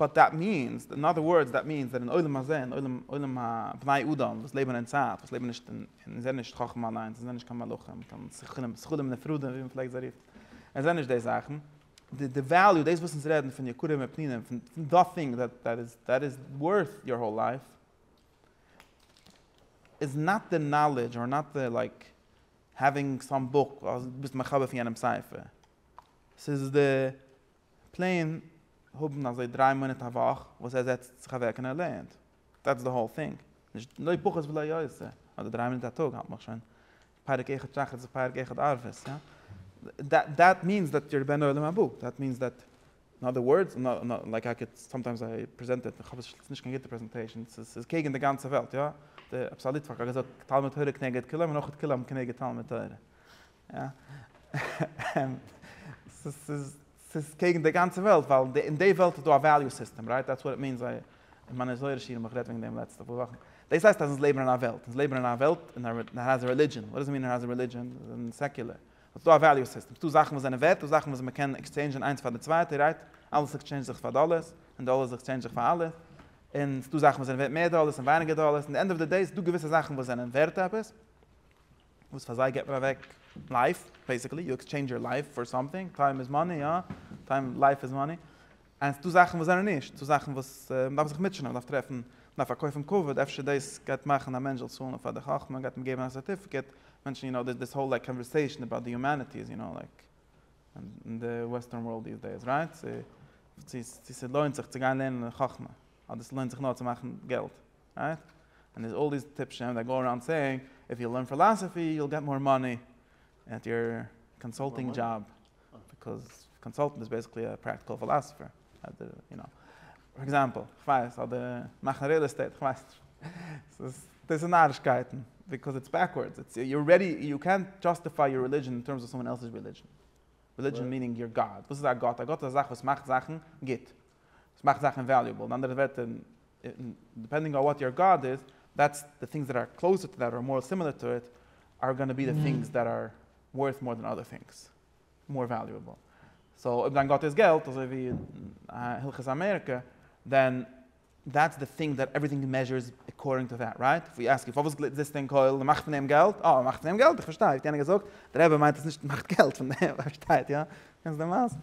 באט דעט מיענס, אין אדער ווארדס דעט מיענס דעט אין עולם הזה, אין עולם, עולם הבני אדם וואס לעבן אין צייט, וואס לעבן נישט אין, און זענען נישט חכם אליינס, און זענען נישט קיין מלאכים, קיין שכלים, שכלים נפרדים ווי מען פלעגט זיי רופן, און זענען נישט די זאכן, די די וועליו, דאס וואס אונז רעדן פון יקרים ופנינים, פון פון דע טינג דעט דעט איז, דעט איז ווארט יור האול לייף, איז נאט די נאלעדזש אר נאט די לייק העווינג סאם בוק, אדער ביסט מחבר פון יענעמ'ס ספר, ס'איז די פלעין האבן אזוי דריי מאנאט א וואך וואס ער זעצט זיך אוועק און ער לערנט, דעטס די האול טינג, נישט לא פחות ולא יותר, אדער דריי מינוט א טאג האלט מיך שוין, פרק אחד שחרית און פרק אחד ערבית, דעט מיענס דעט יור בן עולם הבא, דעט מיענס דעט, אין אדער ווארדס, לייק איי קען סאמטיימס איי פרעזענט איט, איך האב עס נישט קיין גוטע פרעזענטעישן, ס'איז קעגן די גאנצע וועלט, יא, דער אבסאליט פאקט האט געזאגט תלמוד תורה כנגד כולם און אויך כולם כנגד תלמוד תורה, ס'איז קעגן די גאנצע וועלט, ווייל אין די וועלט איז דא א וועליו סיסטעם, רייט? דעטס וואט איט מינס, זיי, אין מיינע זוהר'ע שיעורים האב איך גערעדט וועגן דעם לעצטע פאר וואכן, דאס הייסט אז אונז לעבן אין א וועלט, אונז לעבן אין א וועלט און איט העז א רעלידזשען, וואט דאס איט מין איט העז א רעלידזשען? זיי זענען סעקולער, ס'איז דא א וועליו סיסטעם, ס'איז דא זאכן וואס זענען ווערט, דא זאכן וואס מ'קען עקסטשעינדזשען איינס פאר די צווייטע, רייט? אלעס עקסטשעינדזשט זיך פאר דאלערס, און דאלערס עקסטשעינדזשט זיך פאר אלעס, און ס'איז דא זאכן וואס זענען ווערט מער דאלערס און ווייניגער דאלערס, אין די ענד אוו די דעי איז דא געוויסע זאכן וואס זענען ווערט עפעס, וואס פאר זיי גיבט מען אוועק לייף, בעסיקלי יו עקסטשעינדזש יור לייף פאר סאמטינג, טיים איז מאני, יא, טיים, לייף איז מאני, ענד ס'דא זאכן וואס זענען נישט, ס'דא זאכן וואס מען דארף זיך מוטשענען, מען דארף טרעפן, מען דארף פארקויפן כבוד, אפשר דאס גייט מאכן א מענטש זאל צאלן פאר די חכמה, גייט אים געבן א סערטיפיקעט, מענטשן יו נאו דיס האול קאנווערסעישאן אבאוט די יומעניטי איז יו נאו לייק אין די וועסטערן ווארלד דיס דעיס רייט, צו צו ס'לוינט זיך צו גיין לערנען חכמה, אדער ס'לוינט זיך נאר צו מאכן געלט. רייט? ענד דעיס אלל דעיס טיפשים דעט גאו אראונד סעיאינג איף יו לערן פילאסעפי יו וויל געט מאר מאני עט יור קאנסאלטינג דזשאב ביקאוז קאנסאלטענט איז בעסיקלי א פרעקטיקעל פילאסעפער אדער יו נאו פאר עקזעמפעל כ'ווייס אדער מאכן ריעל עסטעיט כ'ווייס נישט דאס איז נארישקייטן ביקאוז איטס בעקווארדס איטס יו ארעדי יו קענט דזשאסטיפיי יור רעלידזשען אין טערמס אוו סאמען עלסעס רעלידזשען רעלידזשען מינינג יור גאד וואס איז א גאט א גאט איז א זאך וואס מאכט זאכן גוט וואס מאכט זאכן וועליובעל, אין אנדערע ווערטער, דיפענדינג אן וואט יור גאד איז, דעטס די טינגס דעט אר קלאוזער טו דעט אר מאר סימילער טו איט אר גאנע בי די טינגס דעט אר ווארט מאר דען אדער טינגס, מאר וועליובעל. סאו אויב דיין גאט איז געלט, אזוי ווי הלכות אמעריקע, דען דעטס די טינג דעט עווריטינג מעזשערס עקארדינג טו דעט, רייט? איף ווי אסק יו פארוואס גלעט זיסטו אין קויל? מ'מאכט פון דעם געלט? אה, מ'מאכט פון דעם געלט? איך פארשטיי, האט יענער געזאגט, דער רבי מיינט אז נישט מ'מאכט געלט פון דעם, פארשטייט איר? קענסט די מעשה?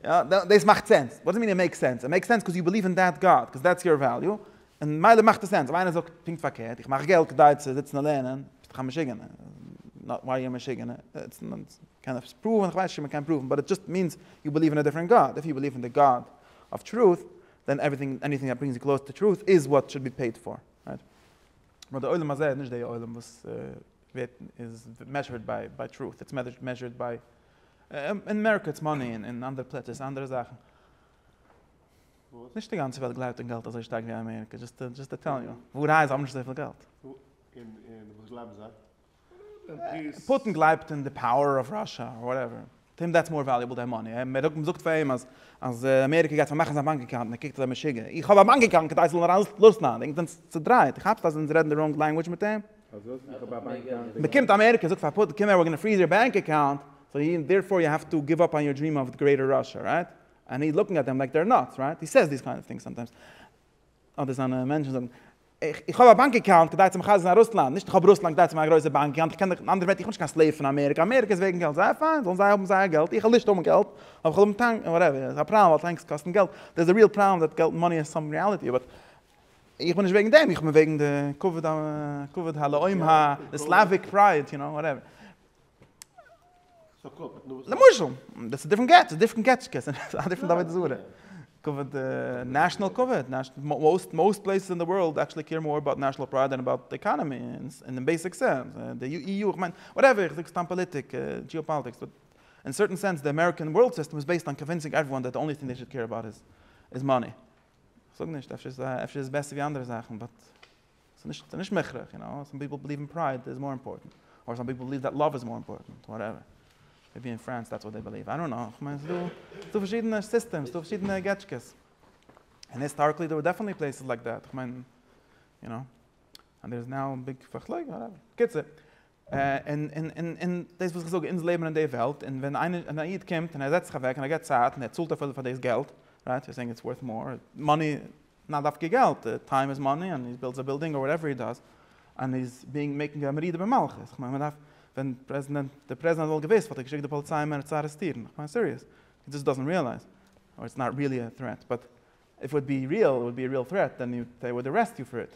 יא, דאס מאכט סענס. וואט דו מין איט מעיקס סענס? איט מעיקס סענס קאוז יו ביליוו אין דעט גאד, קאוז דעטס יור וועליו, און מילא מאכט עס סענס. אויב איינער זאגט פונקט פארקערט, איך מאך געלט כדי צו זיצן און לערנען, ביסט דאך א משוגענער. נאט וואר יו א משוגענער. קען עפעס פראוון? כ'ווייס נישט צו מ'קען פראוון, באט איט דזשאסט מינס יו ביליוו אין א דיפרענט גאד. איף יו ביליוו אין די גאד אוו טרוט, דען עווריטינג, עניטינג דעט ברינגס יו קלאוזער טו טרוט איז וואט שוד בי פעיד פאר. רייט? נאר די עולם הזה איז נישט די עולם וואס ווערט, איז מעזשערד ביי טרוט. איטס מעזשערד ביי אין אמעריקא איטס מאני און אין אנדערע פלעצער איז אנדערע זאכן. נישט די גאנצע וועלט גלייבט אין געלט אזוי שטארק ווי אמעריקא, דזשאסט טעלינג יו. ווארהייט זיי האבן נישט אזויפיל געלט. און וואס גלייבן זיי? פוטין גלייבט אין די פאוער אוו ראשא אר וואטעווער. טו הים דעטס מאר וועליעבל דען מאני. מען זאגט פאר אים אז אמעריקא גייט פארמאכן זיין באנק אקאונט און ער קוקט אזוי משוגע. איך האב א באנק אקאונט כדי איך זאל אריין לאזן א דינג. זענטס צודרייט? כאפסט אז אונז רעדן די ראנג לענגוויטש מיט אים? מ'קומט אמעריקא זאגט פאר פוטין קום אהער וויר גאנא פריז יור בענק אקאונט סאו די און דערפאר יו העוו טו גיוו אפ אן יור דריעם אוו גרעיטער ראשע רייט אנד מי לוקינג עט דעם לייק דער נאטס רייט הי סעיס דיס קיינד אוו טינגס סאמטיימס אדער זיינע מענטשן זאגן איך האב א באנק אקאונט כדי צו מחזק זיין רוסלאנד נישט איך האב רוסלאנד כדי צו ווערן א גרויסע באנק אקאונט איך קען דיך אנדערווייט איך בין נישט קיין סלעיוו פון אמעריקא אמעריקא איז וועגן געלט זייער פיין זאלן זיי האבן זייער געלט איך וויל נישט האבן געלט אבער איך וויל האבן טענק וואטעווער ס'איז א פראבלעם ווייל טענקס קאסטן געלט דעירס א ריעל פראבלעם דעט געלט מאני איז סאמוטינג ריעליטי באט איך בין נישט וועגן דעם, איך בין וועגן די כבוד ה, כבוד הלאום ה, די סלאוויק פרייד, יו נאו, וואטעווער. למשל, דאס איז דיפרענט געטס, דיפרענט געטס קעסט, א דיפרענט עבודה זרה. כבוד, נעשאנעל כבוד, מאוסט, מאוסט פלעיסעס אין די ווארלד עקשעלי קעיר מאר אבאוט נעשאנעל פרייד דען אבאוט די עקאנעמי, אין די בעיסיק סענס. די אי יו, איך מיין, וואטעווער, איך זאג סתם פאליטיק, דזשיאפאליטיקס, באט אין סערטען סענס די אמעריקען ווארלד סיסטעם איז בעיסד אן קאנווינסינג עוועריוואן דעט די אנלי טינג דעי שוד קעיר אבאוט איז מאני. כ'זאג נישט, אפשר איז עס בעסער ווי אנדערע זאכן, באט ס'איז נישט מוכרח, יו נאו, סאם פיפל בליעוו אין פרייד איז מאר אימפארטענט, אדער סאם פיפל בליעוו דעט לאוו איז מאר אימפארטענט, וואטעווער. מעיבי אין פרענס דעטס וואט דעי בליעוו, איי דאנט נאו, כ'מיין ס'איז דא פארשידענע סיסטעמס, ס'איז דא פארשידענע געטשקעס. און היסטאריקלי דער ווער דעפענטלי פלעיסעס לייק דעט, כ'מיין, יו נאו, אנד דער איז נאו ביג פארשלעג, וואטעווער. בקיצור. און דאס וואס איך זאג, אונז לעבן אין די וועלט, און ווען איינער, א איד קומט און ער זעצט זיך אוועק און ער געבט צייט און ער צאלט אפילו פאר דאס געלט, רייט, יו אר סעיאינג איטס ווארט מאר, מאני, לאו דווקא געלט, טיים איז מאני, און הי בילדס א בילדינג אר וואטעווער הי דאז, און הי איז ביאינג, מעיקינג א מרידה במלכות, איך מיין מען דארף, ווען פרעזידענט, דער פרעזידענט וואלט געוואוסט וואלט ער געשיקט די פאליציי אים צו ארעסטירן, איך מיין סיריעס, הי דזאסט דאזענט רעאלייז, אר איטס נאט ריעלי א טרעט, באט איף איט וואלט בי ריעל, איט וואלט בי א ריעל טרעט, דען זיי וואלט ארעסט יו פאר איט.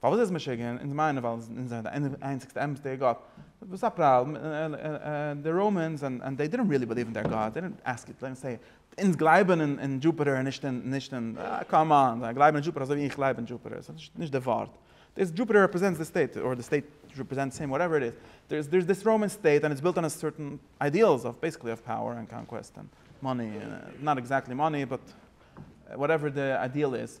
פארוואס איז עס משוגע? אונז מיינען ווייל אונז זענען די איינציגסטע אמת'דיגע גאט. וואס א פראבלעם? די ראמענס ענד ענד דעי דידנט ריעלי ביליוו אין דער גאט, דעי דידנט עסק איט, סא אונז גלייבן אין דזשופעטער און נישט אין נישט אין, קאם אן, זיי גלייבן אין דזשופעטער אזוי ווי איך גלייב אין דזשופעטער, סא נישט נישט די ווארט. דאס דזשופעטער רעפרעזענטס די סטעיט, אדער די סטעיט רעפרעזענטס הים, וואטעווער איט איז. דער איז דיס ראמען סטעיט ענד איטס בילט אן סערטען איידיעלס אוו בעיסיקלי אוו פאוער און קאנקוועסט און מאני, נאט עקזעקטלי מאני באט וואטעווער די איידיעל איז.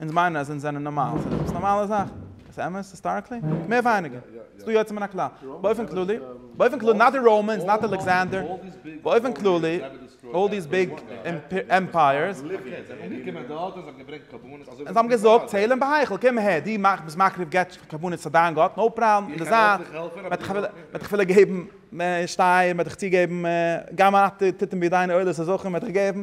אונז מיינען אז אונז זענען נארמאל, ס'איז עפעס נארמאלע זאך? איז אמת היסטאריקלי? מער ווייניגער. ס'איז דא יוצא מן הכלל. באופן כללי, באופן כללי, נאט די ראמענס, נאט אלעקסענדער, באופן כללי, אלל דיס ביג עמפייערס, און זיי האבן געזאגט, צעל און בהיכל, קום אהער, דו ביסט מקריב גט קרבנות פאר דיין גאט, נאו פראבלעם, אין די זייט, מ'וועט דיך אפילו געבן שטייער, מ'וועט דיך צוגעבן, גם אתה תתן בידינו עולות הזכרים, מ'וועט דיך געבן,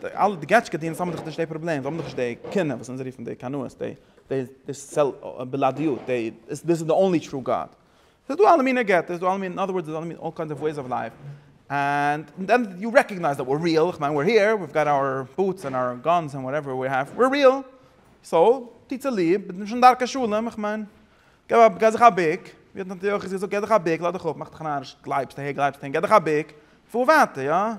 די אלע די געטשקע דיענערס האבן דאך נישט די פראבלעם, זיי האבן דאך נישט די קנאה וואס אונז רופן די קנאות, די די די סעל בלעדיות, די דיס איז די אנלי טרו גאד. ס'איז דא אלע מינע געטעס, ס'איז דא אלע מינע, אין אדער ווארדס, ס'איז דא אלע מינע, אלל קיינדס אוו וועיס אוו לייף, ענד דען יו רעקאגנייז דעט וויר ריעל, כ'מיין וויר העיר, וויוו גאט אווער בוטס ענד אווער גאנס ענד וואטעווער וויר העוו, וויר ריעל, סאו טוט צוליב, ביטע נישט אן דרכי שלום, כ'מיין, גיב א, גיי זיך א בוק, ווי האט נתן תיכוס געזאגט, גיי זיך א בוק, לאז דיך אפ, מאך דיך א נאריש, גלייבסט אהן גייט דיך א בוק, פאר ווייטער, יא.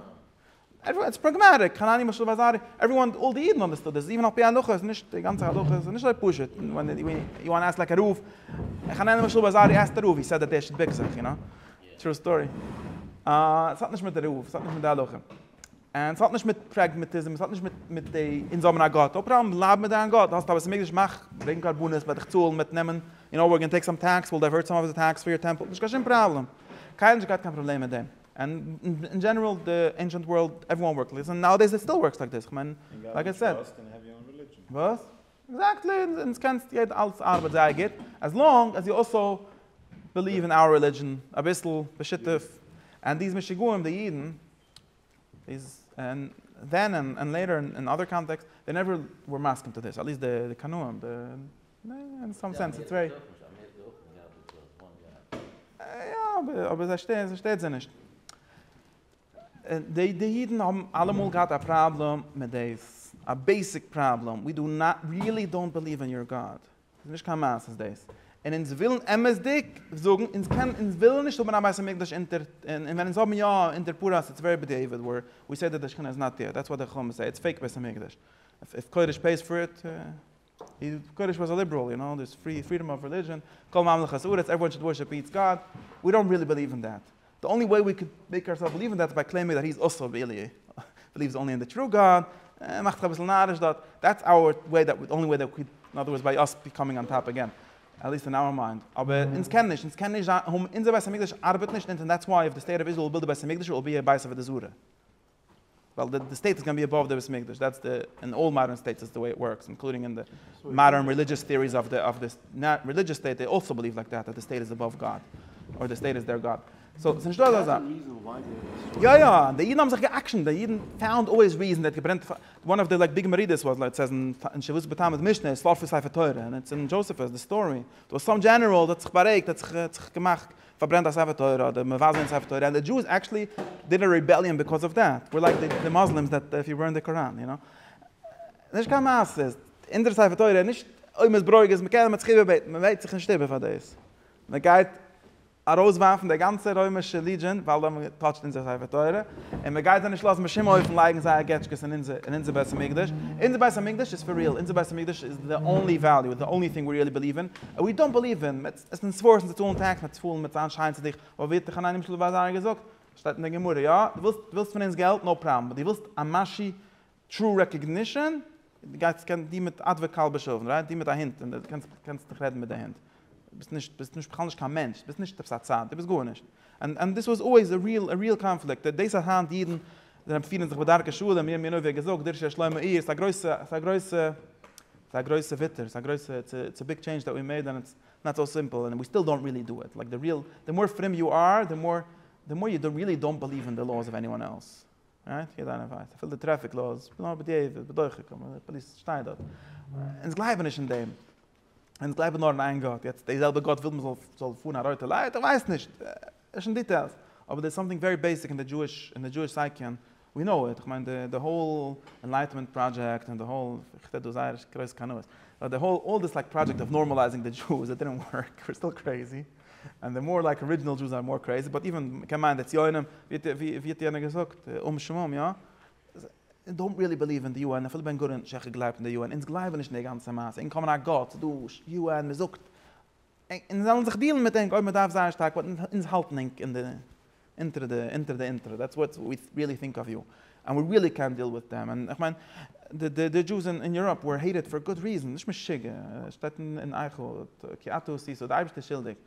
עוועריוואן איטס פראגמעטיק, חנני' משל ואזהרי, עוועריוואן, אלל די אידן אנדערסטוד דיס, איווען על פי הלכה איז נישט, די גאנצע הלכה איז נישט אזוי פשוט, ווען יו וואנט עסק לייק א רב, חנני' משל ואזהרי עסקט א רב, הי סעד דעט דער שט ביק זיך, יו נאו, טרו סטארי, עס האט נישט מיט די רב, עס האט נישט מיט די הלכה, און עס האט נישט מיט פרעגמעטיזם, עס האט נישט מיט מיט די אונז האבן א גאט, נאו פראבלעם, בלייב מיט דיין גאט, האסט א בית המקדש מאך, ברענג קרבנות, וועל דיך צאלן, וועט נעמען, יו נאו, ווער גאנע טעיק סאם טעקס, וויל דייווערט סאם אוו די טעקס פאר יור טעמפל, נישט קיין שום פראבלעם, קיינער האט נישט געהאט קיין פראבלעם מיט דעם. און אין דזשענעראל די ענשענט ווארלד עוועריוואן ווארקד לייק דיס און נאו עי דעיס איט סטיל ווארקס לייק דיס כ'מיין לייק איי סעד וואס? עקזעקטלי און עס קענסט יעדע אלעס ארבעט זייער גוט עז לאנג עז יו אלסאו ביליוו אין אווער רעלידזשען אביסל בשיתוף און דיז משוגעים די אידן איז און דען און לעיטער און אדער קאנטעקסט דעי נעווער ווער מסכים טו דיס עט ליסט די קנאים די אין סאם סענס די צוויי. יא אבער זיי שטערט זיי שטערט זיי נישט. די די אידן האבן אלעמאל געהאט א פראבלעם מיט דאס, א בעיסיק פראבלעם, ווי דו ריעלי דאנט בעליוו אין יור גאד. ס'איז נישט קיין מעשה דאס. און אונז ווילן אמת'דיג זאגן, אונז קענען אונז ווילן נישט האבן א בית המקדש אונטער, און ווען אונז האבן יא אונטער פרעה אז ס'איז ווערי בדיעבד ווער ווי סעי דעט די שכינה איז נאט דעיר, דעטס וואט די חכמים סעי, איטס פעיק בית המקדש. איף קודש פעיס פאר איט. די קודש וואס א ליבעראל, יו נאו, דער איז פרי, פרידאם אוו רעלידזשען, כל ממלכת הארץ, עוועריוואן שוד ווארשיפ איטס גאד, ווי דאנט רילי בעליוו אין דעט, די אנלי וועי ווי קען מעיק אור סעלף בעליוו אין דעט איז ביי קלעימינג דעט היז אלסא רילי בעליווס אנלי אין די טרו גאד, ער מאכט זיך אביסל נאריש דארט, דעטס אווער וועי דעט די אנלי וועי דעט אין אדער ווארדס ביי אס קאמינג אן טאפ עגעין, עטליעסט אין אווער מיינד, אבער אונז קען נישט, אונז קען נישט זיין, אונזער בית המקדש ארבעט נישט אונז אין דעטס וואי איף די סטעיט אוו איזראעל וויל די בית המקדש איט וויל בי עבייס אוו עבודה זרה. ווייל די די סטעיט איז גאנא בי עבאוו די בית מקדש, דעטס די, אין אלל מאדערן סטעיטס דעטס די וועי איט ווארקס, אינקלודינג אין די מאדערן רעלידזשעס טעאריס אוו די אוו די רעלידזשעס סטעיט, דעי אלסא בעליוו לייק דעט, דעט די סטעיט איז עבאוו גאד, אדער די סטעיט איז דער גאד, סאו ס'נישט דא אזא זאך. יא יא, די אידן האבן זיך גע'אקשנ'ט, די אידן פאונד אוועיס ריעזן, דער האט געברענט, וואן אוו די לייק ביג מרידות וואס לייט סעיז אין שבועות בתמוז משנה איז פאר פון ספר תורה, און איטס אין דזשאסעפוס די סטארי, דא סאם דזשענעראל האט זיך בארואיגט, האט זיך האט זיך געמאכט פארברענט א ספר תורה אדער מבזה אין ספר תורה, ענד די דזשואס עקטשעלי דיד א רעבעליאן ביקאוז אוו דעט, ווער לייק די מוסלימס דעט איף יו בערן די קוראן, יו נאו, נישט קיין מעשה, אונזער ספר תורה איז נישט אויב מ'איז ברויגז איז מ'קען, מ'האט זיך איבערבעטן, מ'בעט זיך נישט איבער פאר דאס, מ'גייט ארויסווארפן די גאנצע רוימישע לידזשען ווייל זיי האבן געטאטשט אונזער ספר תורה, און מ'גייט זיי נישט לאזן בשום אופן לייגן זייער געטשקעס אין אונזער אין אונזער בית המקדש, אונזער בית המקדש איז פאר ריעל, אונזער בית המקדש איז די אנלי וועליו, די אנלי טינג ווי ריעלי בעליוו אין, און ווי דאנט בעליוו אין. עס איז נישט ווארט פון זיך צאלן טעקס מיט צפלן מיט זיין שיין צו דיך, ווייל ווי האט יוחנן ימשלט בער זיינער געזאגט, שטייט אין די גמרא, יא, דו ווילסט דו ווילסט פון אונז געלט, נאו פראבלעם, אבער דו ווילסט א משי טרו רעקאגנישאן, גיי צו קען דו מיט עדווער כלבא שבוע, רייט דו מיט א הונט, און קענסט דיך רעדן מיט די הונט. ביסט נישט ביסט נישט בכלל נישט קיין מענטש, ביסט נישט עפעס א צד, דו ביסט גארנישט. און און דאס וואס אלוועיס א ריעל א ריעל קאנפליקט, דאס אז היינט אידן זענען פירן זיך בדרכי שלום, מיר מיר ווי ער געזאגט דרשו שלמה איהר, ס'איז א גרויסע ס'איז א גרויסע ס'איז א גרויסע וויתור, ס'איז א גרויסע איטס איטס א ביג טשעינדזש דעט ווי מעיד און איטס נאט סאו סימפל און ווי סטיל דאנט ריעלי דא איט, לייק די ריעל די מאר פרים יו אר די מאר די מאר יו ריעלי דאנט בעליוו אין די לאוס אוו עניוואן עלס, רייט? יעדער איינער ווייסט אפילו די טרעפיק לאוס, נאר בדיעבד בדוחק, פאליס שטייען דארט, אונז גלייבן נישט אין דעם. אונז גלייבן נאר אין איין גאט, יעצט די זעלבע גאט וויל מען זאל פארן א רויטע לייט? איך ווייס נישט, נישט אין דיטעילס, אבער דער סאמטינג ווערי בעיסיק אין די דזשואיש, אין די דזשואיש סייקען, ווי נאו איט, איך מיין די די האול ענלייטעמענט פראדזשעקט און די האול, איך רעד דא זייער גרויס קנאות, באט די האול אלל דיס לייק פראדזשעקט אוו נארמעלייזינג די דזשואס, איט דידנט ווארק, וויר סטיל קרעיזי, ענד די מאר לייק ארידזשינעל דזשואס אר מאר קרעיזי, באט איווען, מען קען מיינען די ציונים, ווי האט יענער געזאגט, אום שמום, יא? זיי דאונט ריעלי בעליוו אין די יו ען, אפילו בן גוריון שיך האט געגלייבט אין די יו ען, אונז גלייבן נישט אין די גאנצע מעשה, אונז קאמען א גאט, ס'איז דא יו ען, מ'זאגט אונז וועלן זיך דיעלן מיט ענק אויב מ'דארף זייער שטארק, באט אונז האלטן ענק אין די אונטער די אונטער די אונטער, דעטס וואט ווי ריעלי טינק אוו יו ען, ווי ריעלי קענט דיעל וויט דעם, און איך מיין די די די דזשוס אין יוראפ ווער העיטעד פאר גוד ריזען, נישט משוגע, שטייט אין אייך, כי אתה עשיתו, די אייבערשטער איז שולדיג.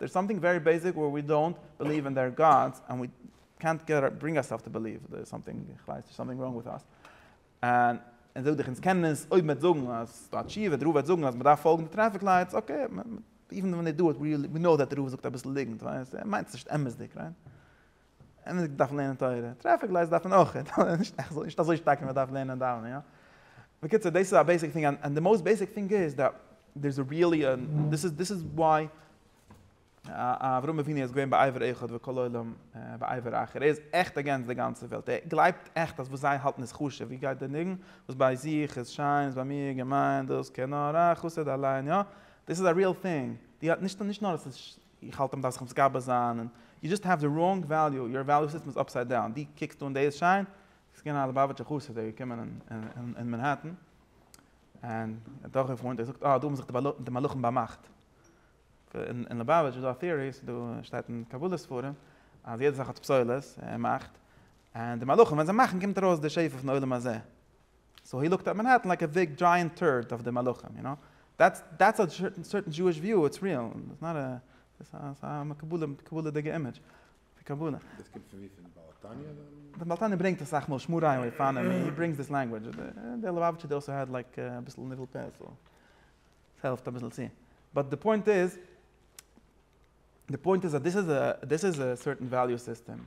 דערס סאמטינג ווערי בעיסיק ווער ווי דאונט בעליוו אין דער גאדס ענד ווי קענט ברינג אורסעלף טו בעליוו דערס סאמטינג איך ווייס נישט סאמטינג ראנג וויט אס ענד ענד זאג דיך אונז קענען עס אויב מ'וועט זאגן אז א תשובה דער רב וועט זאגן אז מ'דארף פאלגן די טרעפיק לייטס אקעי איווען ווען דעי דא איט ווי נאו דעט דער רב זאגט אביסל ליגנט ווייל ער מיינט עס נישט אמת'דיג רייט. און איך דארף לערנען תורה, טרעפיק לייטס דארף מען אויך, נישט אזוי שטארק ווי מען דארף לערנען דאווענען, יא. בקיצור דאס איז א בעיסיק טינג, און די מאוסט בעיסיק טינג איז דא דער'ס ריעלי א, דאס איז דאס איז וואי אברהם אבינו איז געווען בעבר אחד וכל העולם בעבר אחר, ער איז עכט אגענסט די גאנצע וועלט, ער גלייבט עכט אז וואס זיי האלטן איז חשוב, ווי גייט דער ניגון, וואס ביי זיך איז שיין איז ביי מיר געמיין, דאס קען נאר א חסיד אליין, יא. דאס איז א ריעל טינג, נישט נאר אז עס איז איך האלט מען דארף זיך מתגבר זיין און יו דזשאסט העוו די ראנג וועליו, יור וועליו סיסטעם איז אפסייד דאון, דו קוקסט אן דעיס שיין, ס'איז געווען א ליבאוויטשער חסיד דער איז געקומען אין מאנהעטן און ער האט געוואוינט ער זאגט אה דא האבן זיך די מלאכים באמאכט, אין ליבאוויטש איז דא א טעארי ס'איז דא שטייט אין קבלה ספרים אז יעדע זאך האט פסולת און מאכט און די מלאכים ווען זיי מאכן קומט ארויס די שפע פון עולם הזה. סאו הי לוקט עט מענהעטן לייק א ביג דזשייענט טורט אויף די מלאכים, יו קנאו, דעטס א סערטען דזשואיש וויו, איטס ריעל, איטס נאט א, ס'איז א מקובלה'דיגע אימעדזש. די קבלה. דאס קומט פון ווי? פון בעל התניא אדער? די בעל התניא ברענגט אסאך מאל שמור עיון אויף פאנעם, הי ברענגס דיס לענגווידזש, די ליובאוויטשער די אויסער האט לייק אביסל ניבול פה, סאו ס'העלפט אביסל צו. באט די פוינט איז, די פוינט איז אז דאס איז דאס איז א סערטען וועליו סיסטעם,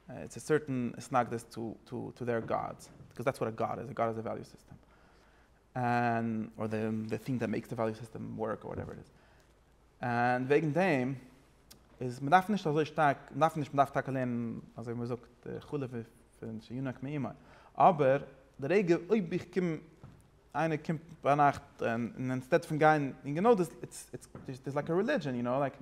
איטס א סערטען התנגדות טו טו טו דעיר גאדס, ביקאוז דעטס וואט א גאד איז, א גאד איז א וועליו סיסטעם, און אר די די טינג דעט מעיקס די וועליו סיסטעם ווארק אר וואטעווער איט איז, און וועגן דעם איז מען דארף נישט אזוי שטארק, מען דארף נישט, מען דארף טאקע לערנען אזוי ווי מען זאגט חלב פון שינק מאימא, אבער די רגע אויב איך קום איינער קומט ביינאכט און אינצטעט פון גיין און גענוי דאס איז דאס לייק א רעלידזשען יו נאו לייק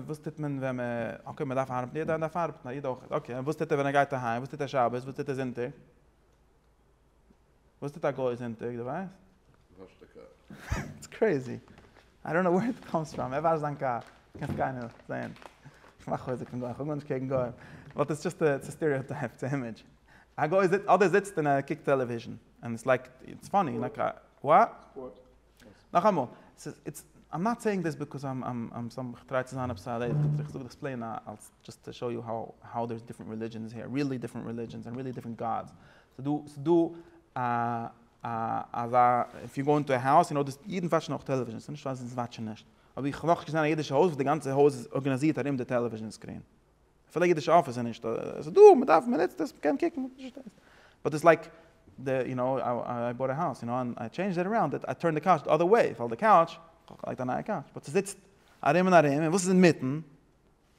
וואס טוט מען ווען מען אקעי מען דארף ארבעטן יעדער דארף ארבעטן א איד אויך אקעי און וואס טוט ער ווען ער גייט אהיים וואס טוט ער שבת וואס טוט ער זונטאג וואס טוט א גוי זונטאג די ווייסט? וואשט די קאר. איטס קרעיזי. איי דאנט נאו ווער איט קאמס פראם. ער וואשט זיין קאר. קענסט גיין און זעהן. איך מאך חוזק פון גוים. איך האב גארנישט קעגן גוים. באט איטס דזשאסט א סטיריאטייפ. איטס א אימעדזש. א גוי זיצט, אדער זיצט און ער קוקט טעלעוויזשן, און עס לייגט, איטס פאני, לייק א, וואט? נאכאמאל, ס'איז, איטס, איים נאט סעיאינג דיס ביזקאז איים, איים, איים סאם, איך טריי צו זיין עפעס א ר ת, איך זאג דאס פלעין אלס, דזשאסט טו שאו יו האו, האו דערס דיפרענט רעלידזשענס העיר, ריעלי דיפרענט רעלידזשענס און ריעלי דיפרענט גאדס. ס'דא, ס'דא א, א, אזא, איף יו גאו אינטו א האוז, יו נאו דאס, אידן וואטשן אויך טעלעוויזשענס, ס'נישט אז זיי וואטשן נישט, אבער איך האב נאכנישט געזען א אידישע הויז וואס די גאנצע הויז איז ארגענאזירט ארום די טעלעוויזשען סקרין. אפילו אידישע אפיס איז נישט, עס איז דא, מען דארף, מען נוצט עס, מען קען קוקן, מען פארשטייט, באט עס איז לייק די, יו נאו, איי באוט א האוז, יו נאו, און איי טשעינדזשד איט אראונד, איי טורנד די קאוטש די אדער וועי, ווייל די קאוטש, כ'האב געלייגט א נייע קאוטש, באט ס'זיצט ארום און ארום, און וואס איז אינמיטן?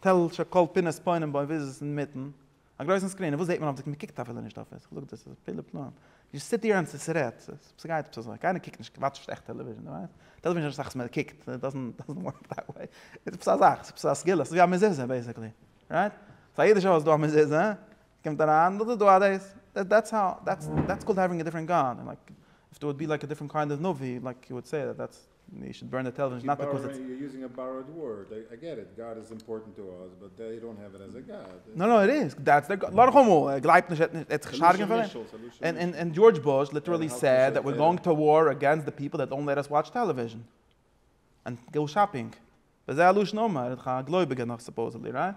טל שכל פינת פוינעם בוים, וואו איז עס אינמיטן? א גרויסן סקרין, און וואס זעט מען אויף די, מען קוקט אפילו נישט אויף עס, כ'זאג דאס איז פלא פלאים, יעצט סיט דיר אונז צו רעדט, ס'גייט עפעס אזוי, קיינער קוקט נישט כמעט שטעכט טעלעוויזשען, דו ווייסט, טעלעוויזשען איז עפעס א זאך וואס מען קוקט, איט דאזענט ווארק דעט וועי, איז עפעס א זאך, איז עפעס א סגולה, ס'איז ווי א מזוזה בעיסיקלי, רייט? סאו א יעדע שעה איז דא א מזוזה, קומט אריין, דאס איז דא א דעיס, דעטס האו, דעטס קאלד העווינג א דיפרענט גאד, לייק, איף דער וואלט בי לייק א דיפרענט קיינד אוו נביא, לייק, יו וואלד סעי דעט דעטס. יו שוד בורן די טעלעוויזשאן נאט ביקאוז איטס. יו יוזינג א באראוד ווארד, איי געט איט, גאד איז אימפארטענט טו אס באט דעי דאנט העוו איט עז א גאד. נאו נאו איט איז, דעטס דער גאד, לאך אמאל, ער גלייבט נישט, ער וועט זיך נישט הארגענען פאר דעם, און און דזשארדזש בוש ליטערלי סעד דעט וויר גאוינג טו וואר אגענסט די פיפל דעט וואונט לעט אס וואטש טעלעוויזשאן און גאו שאפינג, וזה הלשון אמר, א גלויביגער נאך סופאוזעדלי, רייט?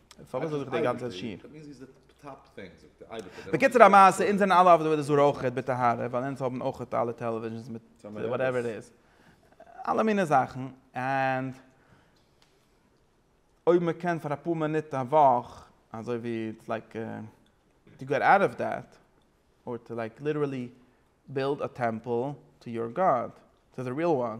פארוואס זאל איך די גאנצע שיר? בקיצור המעשה, אונז זענען אלע אויף די וועלט אסור אויכעט בטהרה, ווייל אונז האבן אויכעט אלע טעלעוויזשענס מיט וואטעווער איט איז, אלע מיני זאכן, און אויב מען קען פאר אפאר מינוט א וואך, אזוי ווי איטס לייק טו געט אוט אוו דעט, אר טו לייק ליטערלי בילד א טעמפל טו יור גאד, טו די ריעל וואן.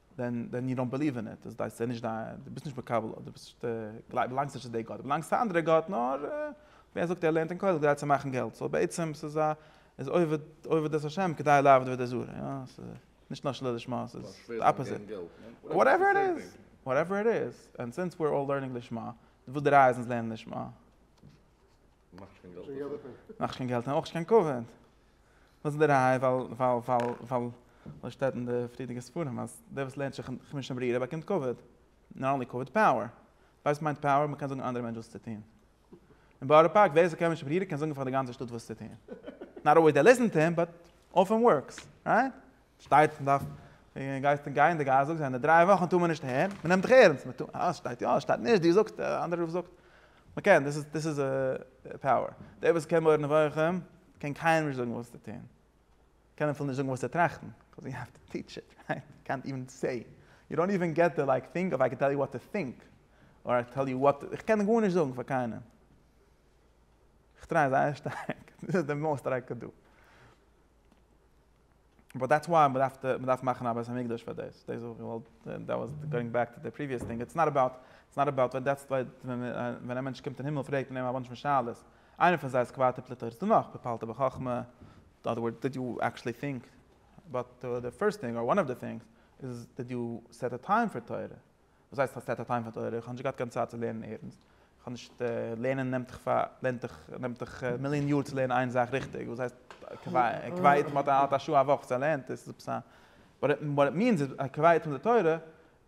דען דען יו דאנט בעליוו אין איט, דאס דאס איז נישט דיין, דו ביסט נישט מקבל אט, דו ביסט נישט, דו באלאנגסט נישט צו די גאט, דו באלאנגסט צו א אנדערע גאט, נאר ווער זאגט ער לערנט אין כולל כדי צו מאכן געלט, סאו בעצם ס'איז א, איז עובד עובד את השם כדי לעבוד עבודה זרה, יא, ס'איז נישט נאר שלא לשמה, ס'איז די אפאזיט, וואטעווער איט איז, וואטעווער איט איז, און סינס וויר אלל לערנינג לשמה, וואס די ראיה איז אונז לערנען לשמה. מאכט שוין געלט דערפון. מאכט שוין געלט און אויך נישט קיין כבוד. וואס איז די ראיה? ווייל ווייל ווייל ווייל ווייל שטייט אין די פריערדיגע ספרים אז דער וואס לערנט שכן חמשה ברירה באקומט כבוד. נאט אנלי כבוד, פאוער. ווייסט מיינט פאוער? מ'קען זאגן אנדערע מענטש וואס צו טון. אין בארא פארק ווער עס איז חמשה ברירה קען זאגן פאר די גאנצע שטאט וואס צו טון. נאט אלוועיס דעי ליסען טו הים באט אופען ווארקס. רייט? שטייט מען דארף און גייסטו גיין די גאס זאגסט זיי אין דריי וואכן טאר מען נישט הערן מען נעמט דיך ערענסט מען טאר אה שטייט יא שטייט נישט דו זאגסט דער אנדערע רב זאגט מען קען דאס איז דאס איז פאוער דער וואס קען מורה נבוכים קען קיינעם נישט זאגן וואס צו טון קען אפילו נישט זאגן וואס צו טראכטן קאוז יו העוו טו טיטש איט רייט יו קענט איווען סעי יו דאנט איווען געט די לייק טינג אוו איי קען טעל יו וואט טו טינק אר איי קען טעל יו וואט איך קען גארנישט זאגן פאר קיינעם איך טריי זייער שטארק דאס איז די מאסט דער איי קען דא. באט דעטס וויי מ'דארף די מ'דארף מאכן א בית המקדש פאר דאס, דאס האב איך געוואלט, דעט וואס גאוינג בעק טו די פריוויעס טינג, איטס נאט אבאוט, איטס נאט אבאוט ווען דעטס ווען ווען א מענטש קומט אין הימל פרעגט מען אים א באנטש פון שאלות, איינע פון זיי איז קוואטע פליטה, איז דא נאך ופעלת בחכמה, אין אדער ווארדס דיד יו עקשעלי טינק אבאוט די פירסט טינג אר וואן אוו די טינגס, איז דיד יו סעט א טיים פאר תורה, וואס הייסט כ'האב סעטע טיים פאר תורה? כ'האב נישט געהאט קיין צייט צו לערנען ערנסט. כ'האב נישט, לערנען נעמט דיך פאר, לערנט דיך, נעמט דיך מיליאן יאר צו לערנען איין זאך ריכטיג, וואס הייסט קווייעט, קווייעט מ'האט האט א שעה א וואך צו ער לערנט עס, איז עפעס א, וואט איט וואט איט מיענס איז א קווייעט פון די תורה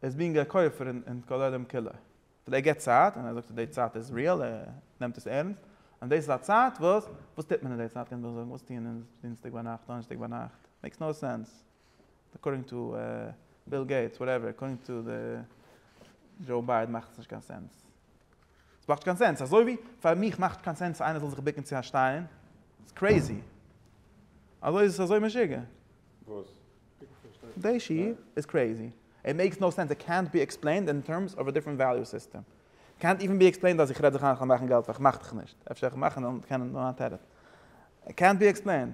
איז בינג א כופר אין אין כל עולם כולו. וויל ער געט צייט, און ער זאגט אז די צייט איז ריעל, ער נעמט עס ערנסט, און דאס איז א צייט וואס, וואס טוט מען אין די צייט קענט איר זאגן, וואס טוען אונז דינסטאג ביינאכט, דאנערשטאג ביינאכט, מעיקס נאו סענס. אקארדינג טו ביל געיטס וואטעווער אקארדינג טו דזשאו ביידען מאכט עס נישט קיין סענס. עס מאכט קיין סענס אזוי ווי פאר מיך מאכט קיין סענס אז איינער זאל זיך ביקן צו א שטיין. ס'איז קרעיזי. אזוי איז עס אזוי משוגע. וואס? די שי' איז קרעיזי. איט מעיקס נאו סענס. איט קענט בי עקספלעינד אין טערמס אוו א דיפרענט וועליו סיסטעם. איט קענט איווען בי עקספלעינד אז איך רעד זיך איין איך וועל מאכן געלט ווייל איך מאך דיך נישט. אפשר איך מאך און דאן קען איך נאר א טערעט. איט קענט בי עקספלעינד.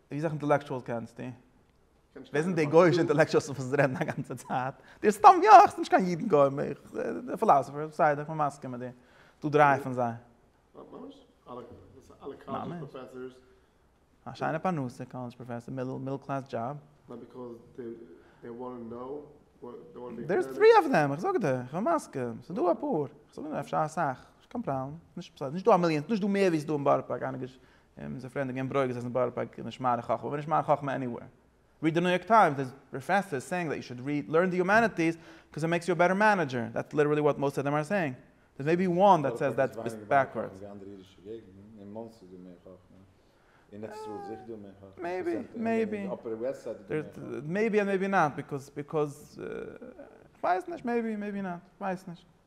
ווי סאך אינטעלעקטשועלס קענסטו? ווער זענען די גויאישע אינטעלעקטשועלס פון וואס זיי רעדן א גאנצע צייט? די סתם יא, איך זיך נישט קיין אידן גוים, איך די פילאזעפער, בסדר איך בין מסכים מיט דיר, ס'דא דרײַ פון זיי. ממש? אלע קאלעדזש פראפעסערס? א שיינע פרנסה, קאלעדזש פראפעסער, מידל קלעס דזשאב. נאר ביקאוז דעי דעי וואנט טו נאו וואט דעי וואנט טו בי. דער איז טרי אוו דעם, איך זאג דיר, איך בין מסכים, ס'דא אפאר, איך זאג נישט אפשר אסאך, נישט קיין פראבלעם, נישט דא א מיליאן, נישט דא מער ווי ס'דא אין בארא פארק, איינער געשריבן און מ'איז צופרידן געווען ברויגז אז אין בארא פארק איז נישט מהר א חכמה, מ'איז נישט מהר א חכמה עניוועיר. ריעד די ניו יארק טיימס, דעיס פראפעסאר איז סעיאינג דעט יו שוד ריעד לערן די יומעניטיס קאוז איט מעיקס יו א בעטער מענעדזשער, דעטס ליטערלי וואט מאסט אוו דעם אר סעיאינג. דעיס מעיבי וואן דעט סעיס דעט ביסט בעקווארדס. מעיבי, מעיבי. מעיבי און מעיבי נאט, ביקאוז, ביקאוז, כ'ווייס נישט, מעיבי, מעיבי נאט, כ'ווייס נישט.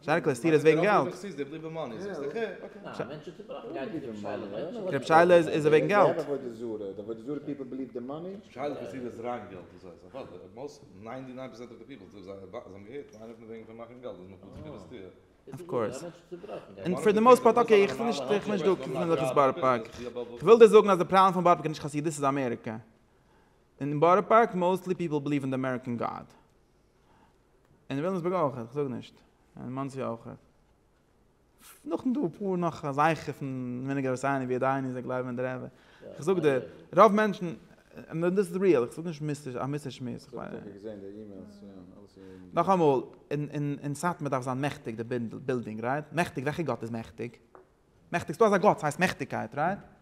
שטארק קלעסטיר איז וועגן געלט. רב שיילע איז וועגן געלט. אף קאורס. און פאר די מאוסט פארט אקעי איך נישט איך נישט דא קומען זיך עס בארא פארק. כ'וויל דיר זאגן אז די פראבלעם פון בארא פארק איז נישט חסידות איז אמעריקא. און בארא פארק מאוסטלי פיפל בליוו אין די אמעריקען גאד. אין וויליאמסבורג אויך, איך זאג נישט, אין מאנסי אויך. נאך דא אפאר נאך אזייכער פון וויניגער וואס איינער ווי עדיין איז זיי גלייבן אין די רעבע. איך זאג דיר, רוב מענטשן, און דאס איז ריעל, איך זאג נישט מיסטער, א מיסטער שמועס. נאכאמאל, אין סאטמאר דארף זיין מעכטיג די בילדינג, רייט? מעכטיג, וועלכע גאט איז מעכטיג? מעכטיג, ס'דא אזא גאט, ס'הייסט מעכטיגקייט, רייט?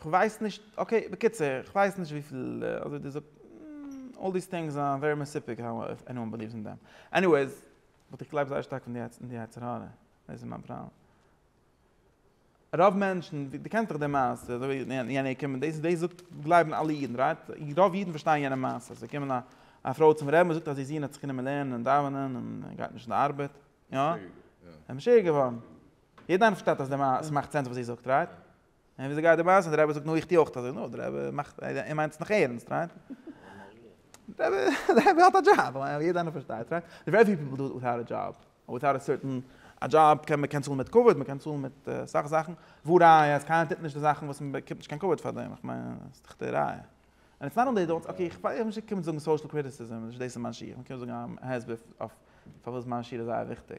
כ'ווייס נישט, אקעי, בקיצור, כ'ווייס נישט וויפיל, אזוי דו זאגסט, אלל דיס טינגס אר ווערי מסופק האו עניוואן בעליווס אין דעם. עניוועיס, באט איך גלייב זייער שטארק אין די יצר הרע, דאס איז מיין פראבלעם. רוב מענטשן, דו קענסט דאך די מעשה, אזוי ווי יענער קומט, דאס דאס זאגט גלייבן אלע אידן, רייט? רוב אידן פארשטייען יענע מעשה, ס'איז געקומען א א פרוי צום רבי'ן, זאגט אז איר זון האט זיך גענומען לערנען און דאווענען און גייט נישט אין די ארבעט, יא? משוגע געווארן. יעדער איינער פארשטייט אז די מעשה, ס'מאכט סענס וואס זי זאגט, רייט? און וויאזוי גייט די מעשה? דער רבי זאגט, נו איך טו אויך אזוי. נו, דער רבי מאכט, ער מיינט עס נאך ערנסט, רייט? דער רבי האט א דזשאב, יעדער איינער פארשטייט, רייט? ווערי פיו פיפל דו איט וויטאוט א דזשאב, און וויטאוט א סערטען, א דזשאב קען מען קען צאלן מיט כבוד, מען קען צאלן מיט אסאך זאכן, וואו ראיה אז קיינער טוט נישט די זאכן וואס מען באקומט נישט קיין כבוד פאר דעם, איך מיין, עס איז דאך די ראיה. און איטס נאט אנלי דאס, אקעי, איך ווייס נישט איך קום זאגן סאושעל קריטיסיזם, נישט דאס איז מיין שיעור, איך קום זאגן א הסבר אויף פארוואס מיין שיעור איז זייער וויכטיג.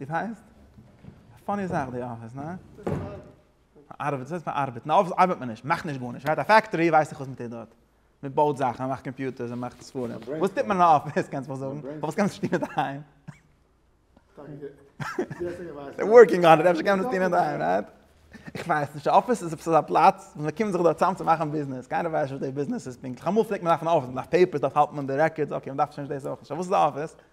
דאס הייסט? א פאני זאך די אפיס, ניין? ארבעט, וואס הייסט פארארבעט? אין אפיס ארבעט מען נישט, מ'מאכט נישט גארנישט, מ'האט א פעקטארי, ווייס איך וואס מ'טוט דארט. מ'בויט זאכן, מ'מאכט קאמפיוטערס, מ'מאכט ספרים. וואס טוט מען אין א אפיס, קענסט מיך זאגן? פארוואס קען מען עס נישט טון אינדערהיים? דער ווארקינג אן איט, אפשר קען מען עס טון אינדערהיים, רייט? איך ווייס נישט, א אפיס איז עפעס אזא פלאץ וואס מ'קומט זיך דארט צאם צו מאכן ביזנעס, קיינער ווייסט נישט וואס די ביזנעס איז פונקטליך, אמאל פלעגט מען דארפן אפיס, מ'דארף פעיפערס, מ'דארף האלטן און דירעקארדס, אקעי, מ'דארף שוין נישט דאס אויך נישט, אבער וואס איז א אפיס?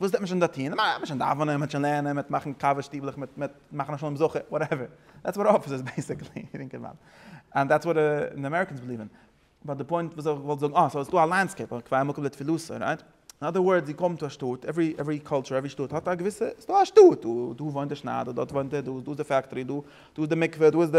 וואס דארף מען שוין דא טון? מ'דארף שוין דאווענען, מ'וועט שוין לערנען, מ'וועט מאכן קאווע שטיבלעך, מ'וועט מאכן א שלום זכר, וואטעווער. דעטס וואט אפיס איז בעיסיקלי, איר אינגערמאן. און דעטס וואט די אמעריקענס ביליוו אין. באט די פוינט וואס איך וואלט זאגן, אה, סאו עס איז דא א לענדסקעיפ, א קביעה מקום לתפילתו, רייט? אין אדער ווארדס, יו קאום טו א שטאט, עוורי עוורי קולטור, עוורי שטאט האט א געוויסע, ס'איז דא א שטאט, דא וואוינט דער שניידער, דארט וואוינט דער, דא איז דאס די פעקטארי, דא איז די מקווה, דא איז די.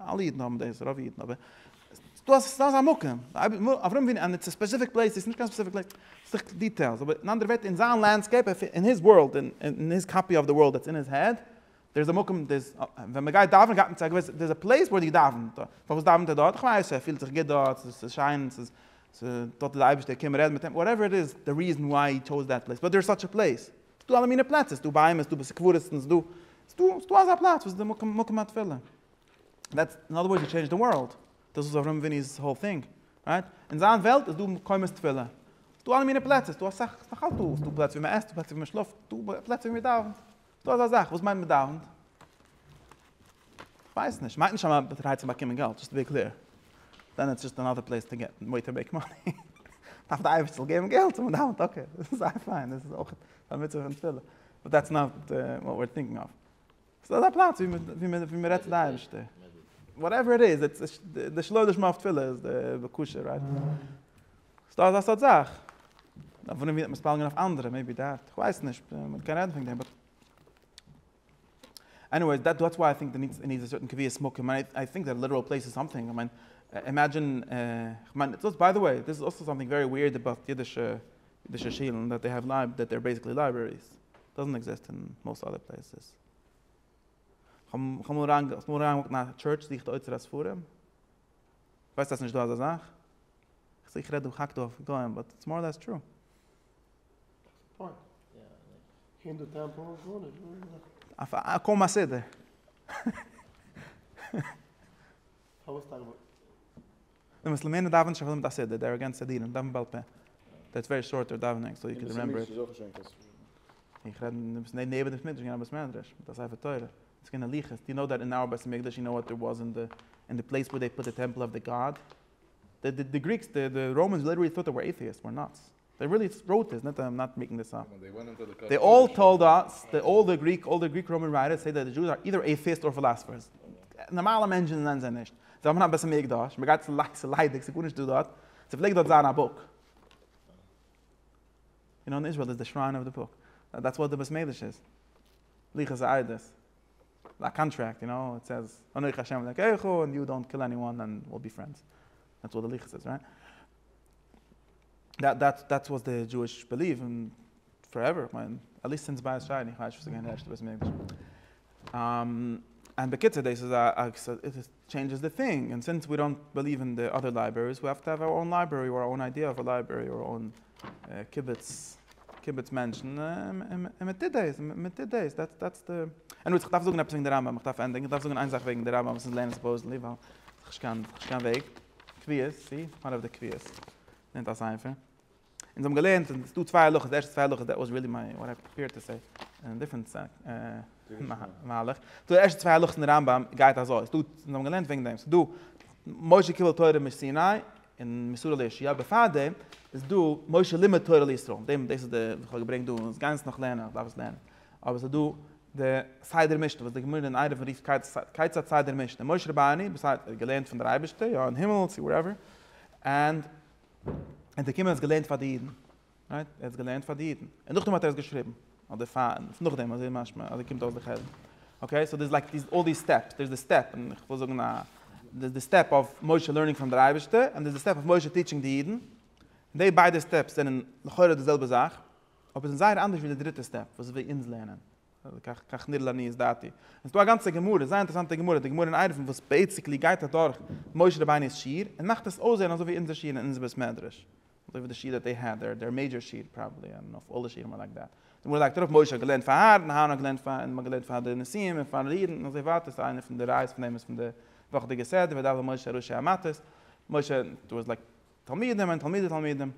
אלע אידן האבן דאס, רוב אידן, אבער דא איז א מקום, אברהם אבינו, און איטס א ספעסיפיק פלעיס, דאס איז נישט קיין ספעסיפיק פלעיס, ס'איז דאך דיטעילס, אבער אין אנדערע ווערטער, אין זיין לענדסקעיפ, אין היז ווארלד, אין היז קאפי אוו די ווארלד דעטס אין היז העד, דער איז א מקום, דער איז, ווען מען גייט דאווענען גייט מען צו א געוויסע, דער איז א פלעיס וואו ער דאווענט, פארוואס דאווענט ער דארט? כ'ווייס, ער פילט זיך גוט דארט, ס'איז שיין, ס'איז, דארט איז דער אייבערשטער, קום רעד מיט אים, וואטעווער איט איז, די ריזען וויי הי טשאוז דעט פלעיס, באט דער איז סאטש א פלעיס. ס'דא אלע מיני פלעצער, ס'דא ביהמ ד, ס'דא בתי קברות, ס'דא, ס'דא, ס'דא אזא פלאץ וואס איז די מקום, מקום התפילה. דעטס, אין אדער ווארדס, די טשעינדזשד די ווארלד. דאס איז אברהם אביני'ס האול טינג. רייט? אין זיין וועלט איז דא מקומות תפילה. ס'דא אלע מיני פלעצער, ס'דא אסאך, ס'דאך אלץ דא, ס'דא פלעצער ווי מ'עסט, ס'דא פלעצער ווי מ'שלאפט, ס'דא פלעצער ווי מ'דאווענט. וואס מיינט מ'דאווענט? כ'ווייס נישט, מיינט נישט אז מ'ארבעט ארהייט צו באקומען געלט, דזשאסט טו בי קלעיר, דען איטס דזשאסט אנאדער פלעיס טו געט וועיר טו מעיק מאני, דארף די אייבערשטער זאל געבן געלט און מ'דאווענט, אקעי, זייער פיין, דאס איז אויך א מצוה פון תפילה, באט דעטס נאט וואט וויער טינקינג אוו, ס'איז דא אזא פלאץ ווי מ'רעדט צו די אייבערשטער, וואטעווער איט איז, איטס די שלא לשמה אויף תפילה איז די בקשה, רייט? ס'דא אזא סארט זאך, אויף וואס מ'וועט מתפלל געווען אויף אנדערע, מעיבי דעט, כ'ווייס נישט, מ'קען רעדן פון דעם, באט. עניוועיס, דעט דעטס וויי איי טינק דער נידס איז א סערטען קביעות מקום, און איי טינק דעט ליטעראל פלעיס איז סאמטינג, איך מיין, אימעדזשין, איך מיין, דאס ביי די וועי, דאס איז אלסא סאמטינג ווערי וויערד אבאוט אידישע, אידישע שילן, דעט דעי העוו לייב, דעט דעי אר בעסיקלי לייברעריס, דאזענט עקזיסט אין מאוסט אדער פלעיסעס. איך האב מאל אריין, האסט מאל אריין געוואקט אין א טשורטש זוכט די אוצר הספרים? ווייסט אז ס'נישט דא אזא זאך? איך רעד דא, כהאק דא אויף גוים, באט איטס מאר לעס טרו. קוים א סדר. די מוסלמענער דאווענען שוין אויך מיט א סדר, דער אגענט סדירים דאווענט בעל פה. דער איז ווערי שארט דער דאווענינג סאו יו קען רימעמבער איט. איך רעד אין די נעבען בית מדרש געווען א בית מדרש מיט א ספר תורה און ס'איז געווען הליכות דו נאו דעט אין אויער בית מקדש יו נאו וואט דער וואס אין די אין די פלעיס וואו דעי פוט די טעמפל אוו די גאד די גריקס די ראמענס ליטערלי טוט דעי ווער עיטיעסט וואר נאטס דעי רילי ראוט דיס, נאט איים נאט מעיקינג דיס אפ. דעי אלל טאלד אס, דעי אלל די גריק, אלל די גריק ראמען רייטערס סעי דעט דע דזשוס אר אידער עיטעיסט אר פילאסעפערס. נארמאלע מענטשען זענען זיי נישט. זיי האבען אביסעל מקדש, מען גייט צו לייק ס'איז ליידיג ס'איז גארנישט דא דארט. ס'פלעגט דארט זיין א בוק. און אן איזראעל איז די שריין אוו די בוק. דעטס וואט די בית מדרש איז. לוחות העדות. א קאנטרעקט יו נאו, איט סעיז אנכי השם אלקיך און יו דאנט קיל עניוואן און וויל בי פרענדס. דעטס וואט די לוחות איז, רייט? דעטס וואס די דזשואיש בעליוו און פארעווער, איך מיין עטליסט סינס בית שני, איך ווייס נישט וואס איז געווען די ערשטע בית המקדש. און בקיצור דאס איז א, איט טשעינדזשעס די טינג, און סינס ווי דאנט בעליוו אין די אדער לייברעריס ווי האוו טו האוו אווער אוין לייברערי אויב אוין איידיע אויף א לייברערי אויב אוין קיבוץ קיבוץ מענטשן און מען טוט דאס און מען טוט דאס דעטס דעטס די עניוועיס איך דארף זאגן עפעס וועגן די רמב ם איך דארף ענדיגן איך דארף זאגן איין זאך וועגן די רמב ם וואס איז לערנען סופאוזעטלי ווייל ס'איז נישט קיין קיין וועג. קביעות, צי? וואן אוו די קביעות. נעמט א ספר. אונז האבן געלערנט אז עס איז דא צוויי הלכות, די ערשטע צוויי הלכות, דעט וואס רילי מיי, וואט איי פיער טו סעי, און דיפרענט מהלך. די ערשטע צוויי הלכות אין די רמב ם גייט אזוי, אונז האבן געלערנט וועגן דעם, עס איז דא משה קיבל תורה מסיני און מסרה לישעיה, בעפאר דעם איז דא משה לימד תורה לישראל, דעם דאס איז די וואס איך האב געברענגט דא, אונז גייען עס נאך לערנען, איך דארף עס לערנען. אבער ס'איז דא די סדר משתה וואס די גמרא אין עירובין רופט כיצד סדר משתה, און משה רבנו וואס האט ער געלערנט פון דער אייבערשטער יא אין הימל צו ווארעווער, ענד ער איז געקומען ער האט עס געלערנט פאר די אידן, רייט? ער האט עס געלערנט פאר די אידן, און נאכדעם האט ער עס געשריבן, אדער פאר און נאכדעם, אזוי איז משמע, אזוי קומט אויס די חלק, אקעי, סאו דער איז לייק דיס אלל דיס סטעפס, דער איז די סטעפ, און איך וויל זאגן א, דער איז די סטעפ אויף משה לערנינג פרום דער אייבערשטער, און דער איז די סטעפ אויף משה טיטשינג די אידן, און די ביידע סטעפס זענען לכאורה די זעלבע זאך. אבער זענען זייער אנדערש ווי די דריטע סטעפ וואס ווי אונז לערנען, כך נראה לעניות דעתי. עס איז דא א גאנצע גמרא, זייער אינטערעסאנטע גמרא, די גמרא אין ערבים וואס בעיסיקלי גייט אדורך משה רבינו'ס שיעור און מאכט עס אויסזען אזוי ווי אונזער שיעור אין אונזער בית מדרש, אזוי ווי די שיעור דעט דעי העד, דער מעידזשער שיעור פראבעבלי, איי דאנט נאו, אלל די שיעורים אר לייק דעט. די גמרא לייגט ארויף משה האט געלערנט פאר אהרן, אהרן האט געלערנט פאר, און מ'האט געלערנט פאר די נשיאים און פאר אידן און אזוי ווייטער, סא איינע פון די ראיות פון דעם איז פון די וואכעדיגע סדר, ודל משה ראשי המטות, משה, דא איז לייק תלמידים און תלמידי תלמידים,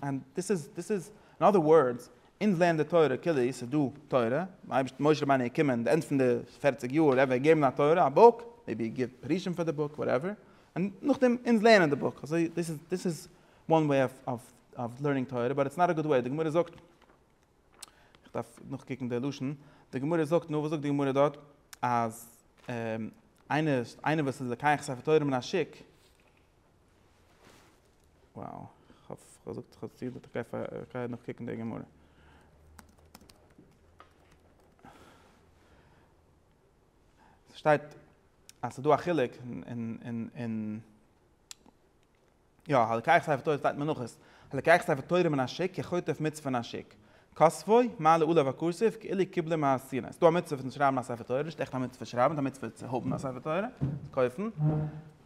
און דאס איז, דאס איז, אין אדער ווארדס, אונז לערנען די תורה כאילו עס איז דא תורה, אייבערשט משה רבינו איז געקומען די ענד פון די פערציג יאר, ער וועט געבן א תורה, א בוק, מעיבי ער גיבט פירושים פאר די בוק, וואטעווער, און נאכדעם אונז לערנען די בוק, אזוי, דאס איז, דאס איז וואן וועי אוו אוו אוו לערנינג תורה, באט איטס נאט א גוד וועי, די גמרא זאגט, איך דארף נאכקוקן די לשון, די גמרא זאגט, נו וואס זאגט די גמרא דארט, אז איינער, איינער וואס איז לוקח ספר תורה מן השוק, וואו, כ'האף כ'זאג כ'האב עס צו געזאגט, אקעי פאר כ'גיי נאך קוקן די גמרא. ס'שטייט אז ס'דא א חילוק אין יא הלקח ספר תורה שטייט מנחות, הלקח ספר תורה מן השיק כחוטף מיץ פון א שיק, קאסווי, מה לעולה והכוסף, כאילו קיבלה מעשירא. ס'דא א מצוה פון שרייבן א ספר תורה, נישט עכט א מצוה פון שרייבן, ס'איז א מצוה צו האבן א ספר תורה, צו קויפן.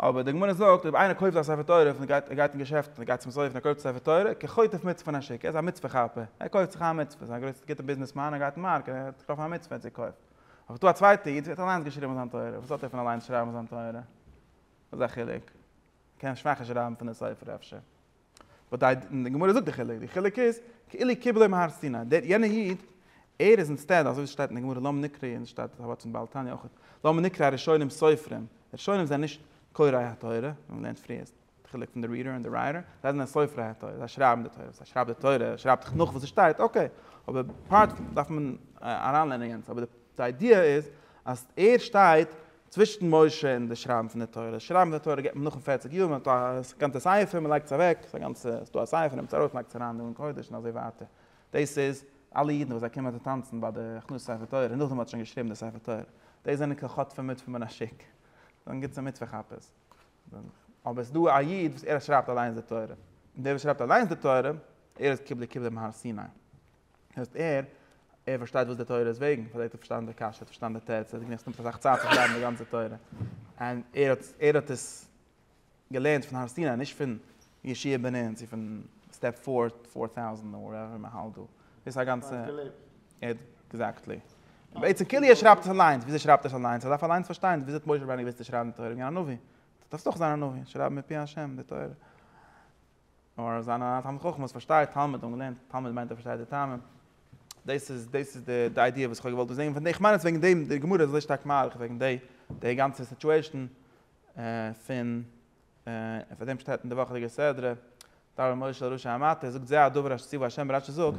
אבער די גמרא זאגט אויב איינער קויפט א ספר תורה פון גייט ער גייט אין געשעפט און ער גייט צום סופר און ער קויפט א ספר תורה, כחוטף מצוה פון השי ת, ער איז א מצוה כאפער, ער קויפט זיך איין מצוה, ס'איז א גרויסע גוטע ביזנעס מאן, ער גייט אין מארק, ער האט געטראפן א מצוה, ער האט זי געקויפט. אבער ס'דא א צווייטע איד וואס האט אליינס געשריבן זיין תורה, וואס האט ער פון אליינס שרייבן זיין תורה? וואס איז א חילוק? ער קען שוואכער שרייבן פון די ספר אפשר. אוודאי און די גמרא זאגט די חילוק, די חילוק איז כאילו קיבלו מהר סיני, דער יענער איד ער איז אינסטעד אזוי ווי ס'שטייט אין די גמרא למה נקרא און ס'שטייט אזוי אויך אין בעל תניא אויך למה נקרא הראשונים סופרים, די ראשונים זענען נישט קוראי התורה, ווי מען לערנט פריער איז די חילוק פון די ריעדער און די רייטער, זיי זענען סופרי התורה, זיי שרייבן די תורה, ווער ס'שרייבט די תורה שרייבט זיך נאך וואס ס'שטייט, אקעי, אבער פארט דארף מען אריינלערנען יענץ, אבער די איידיע איז אז ער שטייט צווישן משה און די שרייבן פון די תורה, שרייבן פון די תורה געבט מען נאכן פֿערציק יאר, מען האט א גאנצע ספר מען לייגט עס אוועק, ס'איז א גאנצע, ס'איז דא א ספר נעמטס ארויס לייגטס אריין דא אין קודש און אזוי ווייטער, דאס איז אלע אידן וואס זיי קומען צו טאנצן ביי די הכנסת ספר תורה און נאכדעם האט שוין געשריבן די ספר תורה, דאס זענען קיין חוטפים מוטפים מן השוק, זענען גוטע מצוה כאפערס, אבער ס'איז דא א איד וואס ער שרייבט אליינס די תורה, און דער וואס שרייבט אליינס די תורה ער איז קיבלי קבלי מהר סיני. הייסט ער ער פארשטייט וואס די תורה איז וועגן, פארדעם האט ער פארשטאנען די קשיא, ער האט פארשטאנען די תירץ, ער האט געמערקט עס נעמט אסאך צייט צו שרייבן די גאנצע תורה, און ער האט ער האט עס געלערנט פון הר סיני נישט פון ישיבה בנין צו פון סטעפ פאר פאר טאוזענט און וואטעווער מען האלט דא, דאס איז א גאנצע עקזעקטלי. בעצם כאילו ער שרייבט עס אליינס, וויאזוי שרייבט ער עס אליינס? ער דארף אליינס פארשטיין וויאזוי האט משה רבנו געוואוסט צו שרייבן די תורה וועגן א נביא, דארף דאך זיין א נביא, שרייבן מפי השם די תורה. נאר אז זיין א תלמיד חכם וואס פארשטייט תלמוד און לערנט תלמוד מיינט ער פארשטייט די טעמים, דאס איז דאס איז די די איידיע וואס איך האב געוואלט דא זען פון די, איך מיין אז וועגן דעם די גמרא איז אזוי שטארק מאריך וועגן די די גאנצע סיטואעישן פון און פאר דעם שטייט אין די וואכעדיגע סדרה, דבר משה רשע אמתו, זאגט זה הדבר אשר ציוה השם רשע זאגט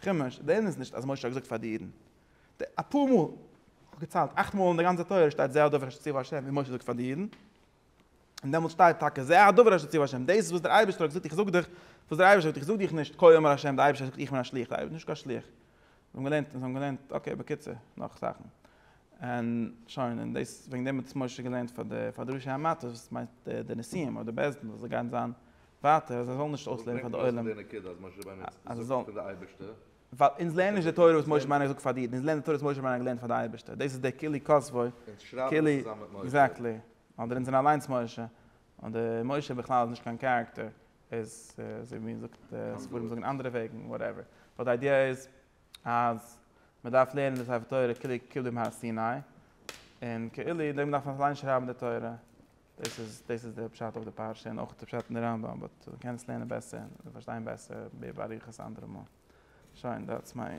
כמש, דער ענין איז נישט אז משה האט געזאגט פאר די אידן. די אפאר מאל, כ'האב געציילט, אכט מאל אין די גאנצע תורה שטייט זה הדבר אשר ציוה ה' און משה זאגט פאר די אידן. און דעמאלטס שטייט טאקע זה הדבר אשר ציוה ה', דאס איז וואס דער אייבערשטער האט געזאגט איך זאג דיך וואס דער אייבערשטער זאגט איך זאג דיך נישט כה אמר ה' דער אייבערשטער האט געזאגט איך בין א שליח דער אייבערשטער איז נישט קיין שליח. און זיי האבן געלערנט און זיי האבן געלערנט אקעי בקיצור נאך זאכן און שוין און דאס וועגן דעם האט עס משה געלערנט פאר די פאר די ראשי המטות וואס מיינט די נשיאים אדער בעש ט וואס זיי גייען זיין ווייטער אז זיי זאלן נישט אויסלערנען פאר די עולם, אז זיי זאלן, ווייל אונז לערנען נישט די תורה וואס משה מיינעך זאגט פאר די אידן, אונז לערנען די תורה וואס משה מיינעך האט געלערנט פאר די אייבערשטער, דאס איז דער כלי כסבוי, כלי, עקזעקטלי, אדער אונז זענען אליינס משה, אדער משה בכלל איז נישט קיין קערעקטער, איז אזוי ווי מען זאגט, ספרים זאגן אנדערע וועגן, וואטעווער, באט די איידיע איז אז מען דארף לערנען די ספר תורה כללי כתיב בימי הר סיני, און כאילו דערפאר דארף מען אליינס שרייבן די תורה. דאס איז דאס איז די פשט אויף די פרשה און אויך די פשט אין די רמב ם באט די קענסט לערנען בעסער און פארשטיין בעסער מער באריכות אנדערע מאל שוין דעטס מיי.